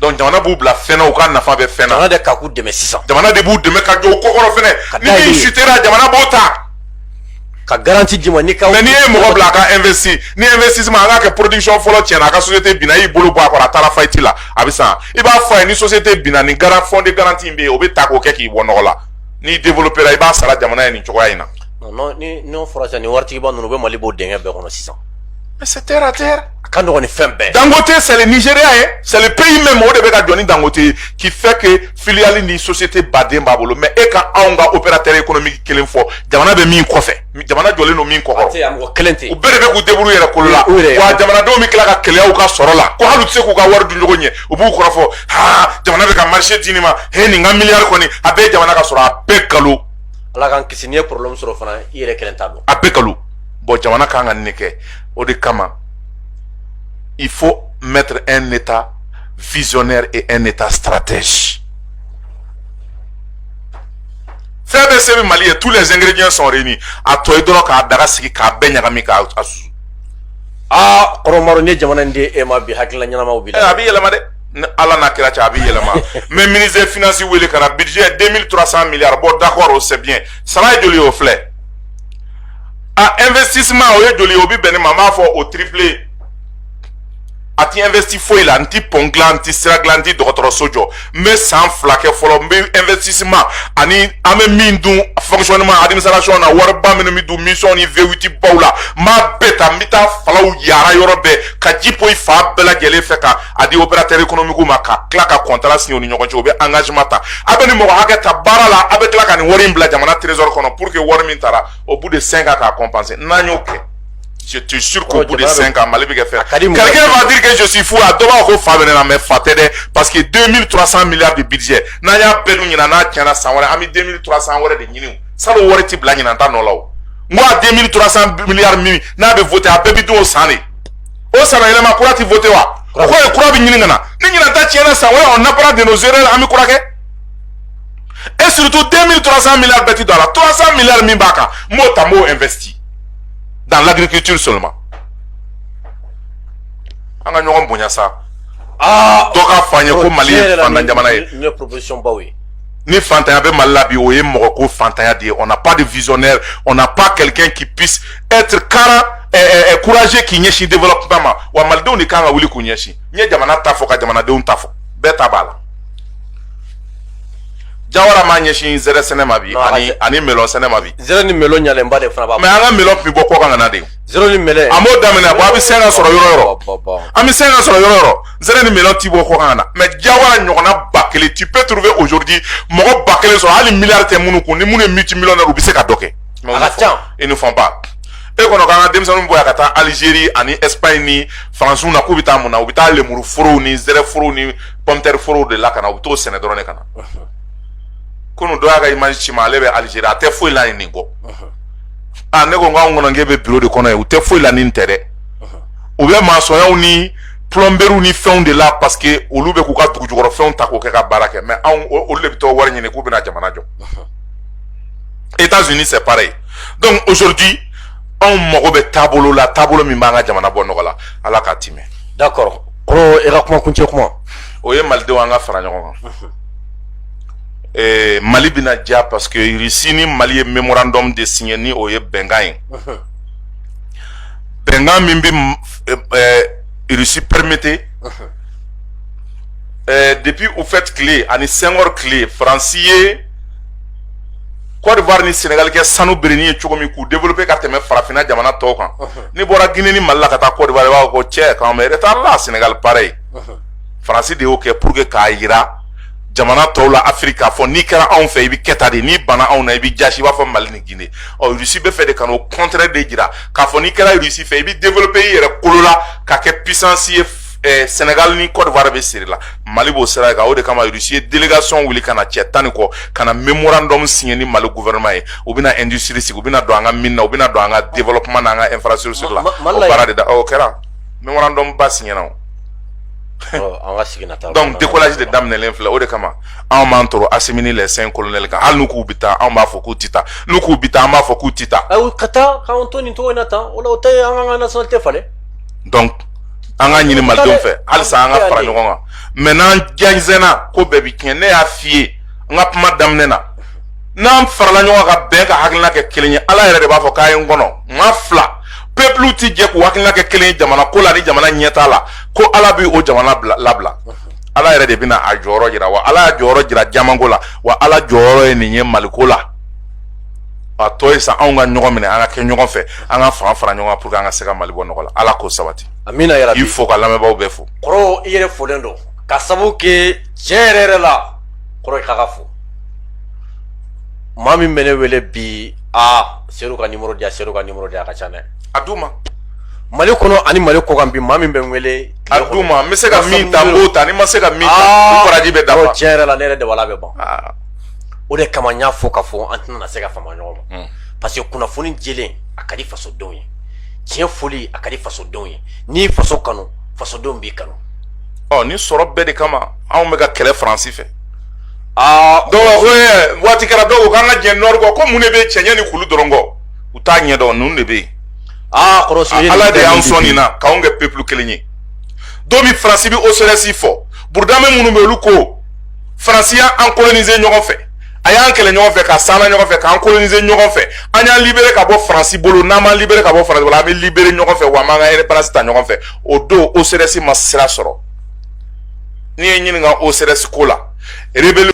jamana b'u bila fɛn na u ka nafa bɛ fɛn na jamana de ka k'u dɛmɛ sisan jamana de b'u dɛmɛ ka jɔ u kɔkɔrɔ fɛnɛ ni min chutera jamana b'o ta ka garanti d'i ma ni ka n'i ye mɔgɔ bila a ka investi ni investissement an k'a kɛ production fɔlɔ tiɲɛna a ka société binna i y'i bolo bɔ a kɔrɔ a taara faillite la a bɛ san i b'a fɔ a ye ni société binna nin garan fond de garantie in bɛ yen o bɛ ta k'o kɛ k'i bɔ nɔgɔ la n'i développera i b'a sara jamana ye nin cogoya in na n'o fɔra sisan nin waritigiba ninnu u bɛ mali bɔ dingɛ bɛɛ kɔnɔ sisan c'est terre à terre a ka nɔgɔn ni fɛn bɛɛ dangote c'est le nigeria ye c'est le pays même o de bɛ ka jɔ ni dangote ye qui fait que filiale ni société baden b'a bolo mais e ka anw ka opérateur économique kelen fɔ jamana bɛ min kɔfɛ jamana jɔlen don min kɔkɔrɔ mɔgɔ kelen tɛ u bɛɛ de bɛ k'u débrouiller yɛrɛ kolo la wa jamanadenw bɛ tila ka keleya u ka sɔrɔ la ko hali u tɛ se k'u ka wari dun cogo ɲɛ u b'u kɔrɔfɔ haa jamana bɛ ka marché di nin ma he nin ka milliard kɔni a bɛɛ jamana ka sɔrɔ a bɛɛ kalon ala k'an kisi n'i ye problème sɔrɔ fana i yɛrɛ kelen ta don a bɛɛ kalon bɔn jamana ka kan ka nin kɛ o de kama il faut mettre un état visionnaire et un état stratège fɛn bɛɛ se bɛ mali ye tous les ingrédients sont réunis a tɔ ye dɔrɔn ka daga sigi k'a bɛɛ ɲagami k'a susu aa kɔrɔ maro n'i ye jamana in di e ma bi hakilila ɲɛnamaw b'i la eh, a bɛ yɛlɛma dɛ ni ala n'a kira cɛ a bɛ yɛlɛma n bɛ ministre finance wele ka na budget 2300 milliards bon d'accord o c'est bien sara ye joli y'o filɛ a investissement o ye joli ye o bɛ bɛn nin ma n b'a fɔ o triple a ti investi foyi la n ti pɔn dilan n ti sira dilan n ti dɔgɔtɔrɔso jɔ n bɛ san fila kɛ fɔlɔ n bɛ investissement ani an bɛ min dun fonctionnement administration na wariba minnu bɛ dun mission ni V8 baw la n b'a bɛɛ ta n bɛ taa falaw yaara yɔrɔ bɛɛ ka ji poyi fan bɛɛ lajɛlen fɛ ka a di opérateur économiquew ma ka tila ka contrat signer u ni ɲɔgɔn cɛ u bɛ engagement ta a bɛ nin mɔgɔ hakɛ ta baara la a bɛ tila ka nin wari in bila jamana trésor kɔnɔ pour que wari min taara au bout de 5 ans k'a compenser n'an y'o kɛ je te jure qu'au bout de 5 ans mali bɛ kɛ fɛn quelqu'un va dire que je suis fou a dɔ b'a fɔ ko fa bɛ ne na mais fa tɛ dɛ parce que 2300 milliards de budget n'an y'a bɛɛ dun ɲinan n'a tiɲɛna san wɛrɛ an bɛ 2300 wɛrɛ de ɲini salon wari tɛ bila ɲinan ta nɔ la o n ko a 2300 milliards min n'a bɛ voter a bɛɛ bɛ dun o san de o san yɛlɛma kura tɛ voter wa o kɔrɔ ye kura bɛ ɲini ka na ni ɲinan ta tiɲɛna san wɛrɛ on apprend de nos erreurs an bɛ kura kɛ et surtout 2300 milliards bɛɛ ti don a la 300 milliards min b'a kan n b'o ta n b'o investi dans l'agriculture seulement an ka ɲɔgɔn bonya sa dɔ k'a fɔ n ye ko mali ye fantan jamana ye ni fantanya bɛ mali la bi o ye mɔgɔko fantanya de ye on n'a pas de visionnaire on n'a pas quelqu'un qui puisse être carré eh, eh, eh, courageux k'i ɲɛsin développement ma wa malidenw de kan ka wuli k'u ɲɛsin n ye jamana ta fɔ ka jamanadenw ta fɔ bɛɛ ta b'a la jawara m'a ɲɛsin zɛrɛ sɛnɛ ma bi ani ani melɔn sɛnɛ ma bi zɛrɛ ni melɔn ɲalenba de fana b'a mais an ka melɔn bi bɔ kɔkan ka na de zɛrɛ ni melɔn an m'o daminɛ ban an bɛ se k'a sɔrɔ yɔrɔ yɔrɔ an bɛ se k'a sɔrɔ yɔrɔ yɔrɔ zɛrɛ ni melɔn ti bɔ kɔkan ka na mais jawara ɲɔgɔnna ba kelen tu peux trouver aujourd'hui mɔgɔ ba kelen sɔrɔ hali miliyari tɛ minnu kun ni minnu ye multi millionnaire u bɛ se ka dɔ kɛ a ka ca ils ne font pas e kɔnɔ k'an ka denmisɛnninw bɔ yan ka taa Algérie ani Espagne ni France na k'u bɛ taa mun na u bɛ taa lemuru forow ni zɛrɛ forow ni pomme terre forow de la ka na u bɛ t'o sɛnɛ dɔrɔn de ka na kunu dɔ y'a ka image ci n ma ale bɛ Algérie a tɛ foyi la yen nin kɔ aa ne ko nk'anw kɔnɔ k'e bɛ bureau de kɔnɔ yen u tɛ foyi la ni nin tɛ dɛ u bɛ masɔnyaw ni plɔnberiw ni fɛnw de la parce que olu bɛ k'u ka dugujukɔrɔ fɛnw ta k'o kɛ ka baara kɛ mais anw olu de bɛ t'o wari ɲini k'u bɛna jamana jɔ États-Unis c'est pareil donc aujourd'hui anw mago bɛ taabolo la taabolo min b'an ka jamana bɔ nɔgɔ la ala k'a timɛ d'accord kɔrɔ e ka kuma kuncɛ kuma o ye malidenw an ka fara ɲɔgɔn kan eh, mali bɛna diya parce que russie ni mali ye memorandum de signé ni o ye bɛnkan ye bɛnkan min bɛ irisi permettre depuis houphouët tile ani senghor tile faransi ye cote d'ivoire ni sɛnɛgali kɛ sanu bɛrɛnin ye cogo min k'u développer ka tɛmɛ farafinna jamana tɔw kan n'i bɔra gine ni mali la ka taa cote d'ivoire i b'a fɔ ko cɛ k'an bɛ retard la sɛnɛgali pareil faransi de y'o kɛ pour que k'a jira jamana tɔw la afiriki k'a fɔ n'i kɛra anw fɛ i bɛ kɛ tan de n'i bana anw na i bɛ jasi i b'a fɔ mali ni gine ɔ irisi b'a fɛ de ka n'o contraire de jira k'a fɔ n'i kɛra irisi fɛ i bɛ develope i yɛrɛ kolo la ka kɛ puissance ye eh, senegal ni cote d'ivoire bɛ seri la mali b'o sira kan o de kama irisi ye delegation wuli ka na cɛ tan ni kɔ ka na memorandum siɲɛ ni mali gouvernement ye u bɛna industrie sigi u bɛna don an ka mine na u bɛna don an ka développement n'an ka infrastructure la o baara de da o kɛra memorandum ba siɲɛna o donc décollage de daminɛlen filɛ o de kama anw b'an tɔɔrɔ asimi ni les cinq colonels kan hali n'u k'u bɛ taa anw b'a fɔ k'u tɛ taa n'u k'u bɛ taa an b'a fɔ k'u tɛ taa ayi ka taa k'anw to nin cogo in na tan o la o tɛ an ka an ka nationalité falen donc an ka ɲini malidenw fɛ halisa an ka fara ɲɔgɔn kan mais n'an jɛnsɛnna ko bɛɛ bɛ tiɲɛ ne y'a f'i ye n ka kuma daminɛ na n'an farala ɲɔgɔn ka bɛn ka hakilina kɛ kelen ye ala yɛrɛ de b'a fɔ k'a ye n kɔnɔ n ka fila pepulu tɛ jɛ k'u hakilina kɛ kelen ye jamana ko la ni jamana ɲɛtaa la ko ala bɛ o jamana labila ala yɛrɛ de bɛna a jɔyɔrɔ jira wa ala y'a jɔyɔrɔ jira jamanko la wa ala jɔyɔrɔ ye nin ye maliko la a tɔ ye sa anw ka ɲɔgɔn minɛ an ka kɛ ɲɔgɔn fɛ an ka fanga fara ɲɔgɔn kan pour que an ka se ka mali bɔ nɔgɔ la ala k'o sabati amina yarabi il faut ka lamɛnbaaw bɛɛ fo kɔrɔ i yɛrɛ folen don ka sabu kɛ tiɲɛ yɛrɛ yɛrɛ la kɔrɔ i ka ka fo maa min bɛ ne wele bi aa seydou ka nimoro di yan seydou ka nimoro di yan a ka ca dɛ a d'u ma mali kɔnɔ ani mali kɔkan bi maa min bɛ n wele a d'u ma n bɛ se ka min ta n b'o ta ni ma se ka min ta baraji bɛ dafa tiɲɛ yɛrɛ la ne yɛrɛ dabali bɛ ban o de kama n y'a fɔ ka fɔ an tɛna se ka fama ɲɔgɔn ma hmm. parce que kunnafoni jɛlen a ka di fasodenw ye tiɲɛ foli a ka di fasodenw ye n'i faso kanu fasodenw b'i kanu ɔ nin sɔrɔ bɛɛ de kama anw bɛ ka kɛlɛ faransi fɛ aa donc waati kɛra dɔw ko k'an ka jɛn nord kɔ ko mun de bɛ cɛncɛn ni kulu dɔrɔn kɔ u t'a ɲɛdɔn ninnu de bɛ yen aa ala de y'an sɔn nin na k'anw kɛ pepulu kelen ye don min faransi bɛ oserɛsi fɔ burudame minnu bɛ olu ko faransi y'an kolonize ɲɔgɔn fɛ a y'an kɛlɛ ɲɔgɔn fɛ ka s'an na ɲɔgɔn fɛ k'an kolonize ɲɔgɔn fɛ an y'an libere ka bɔ faransi bolo n'an b'an libere ka bɔ faransi bolo an bɛ libere ɲɔgɔn fɛ wa an b'an ka indépendance ta ɲɔgɔn fɛ o don oserɛsi ma sira sɔrɔ n'i ye ɲininka oserɛsi ko la rebelle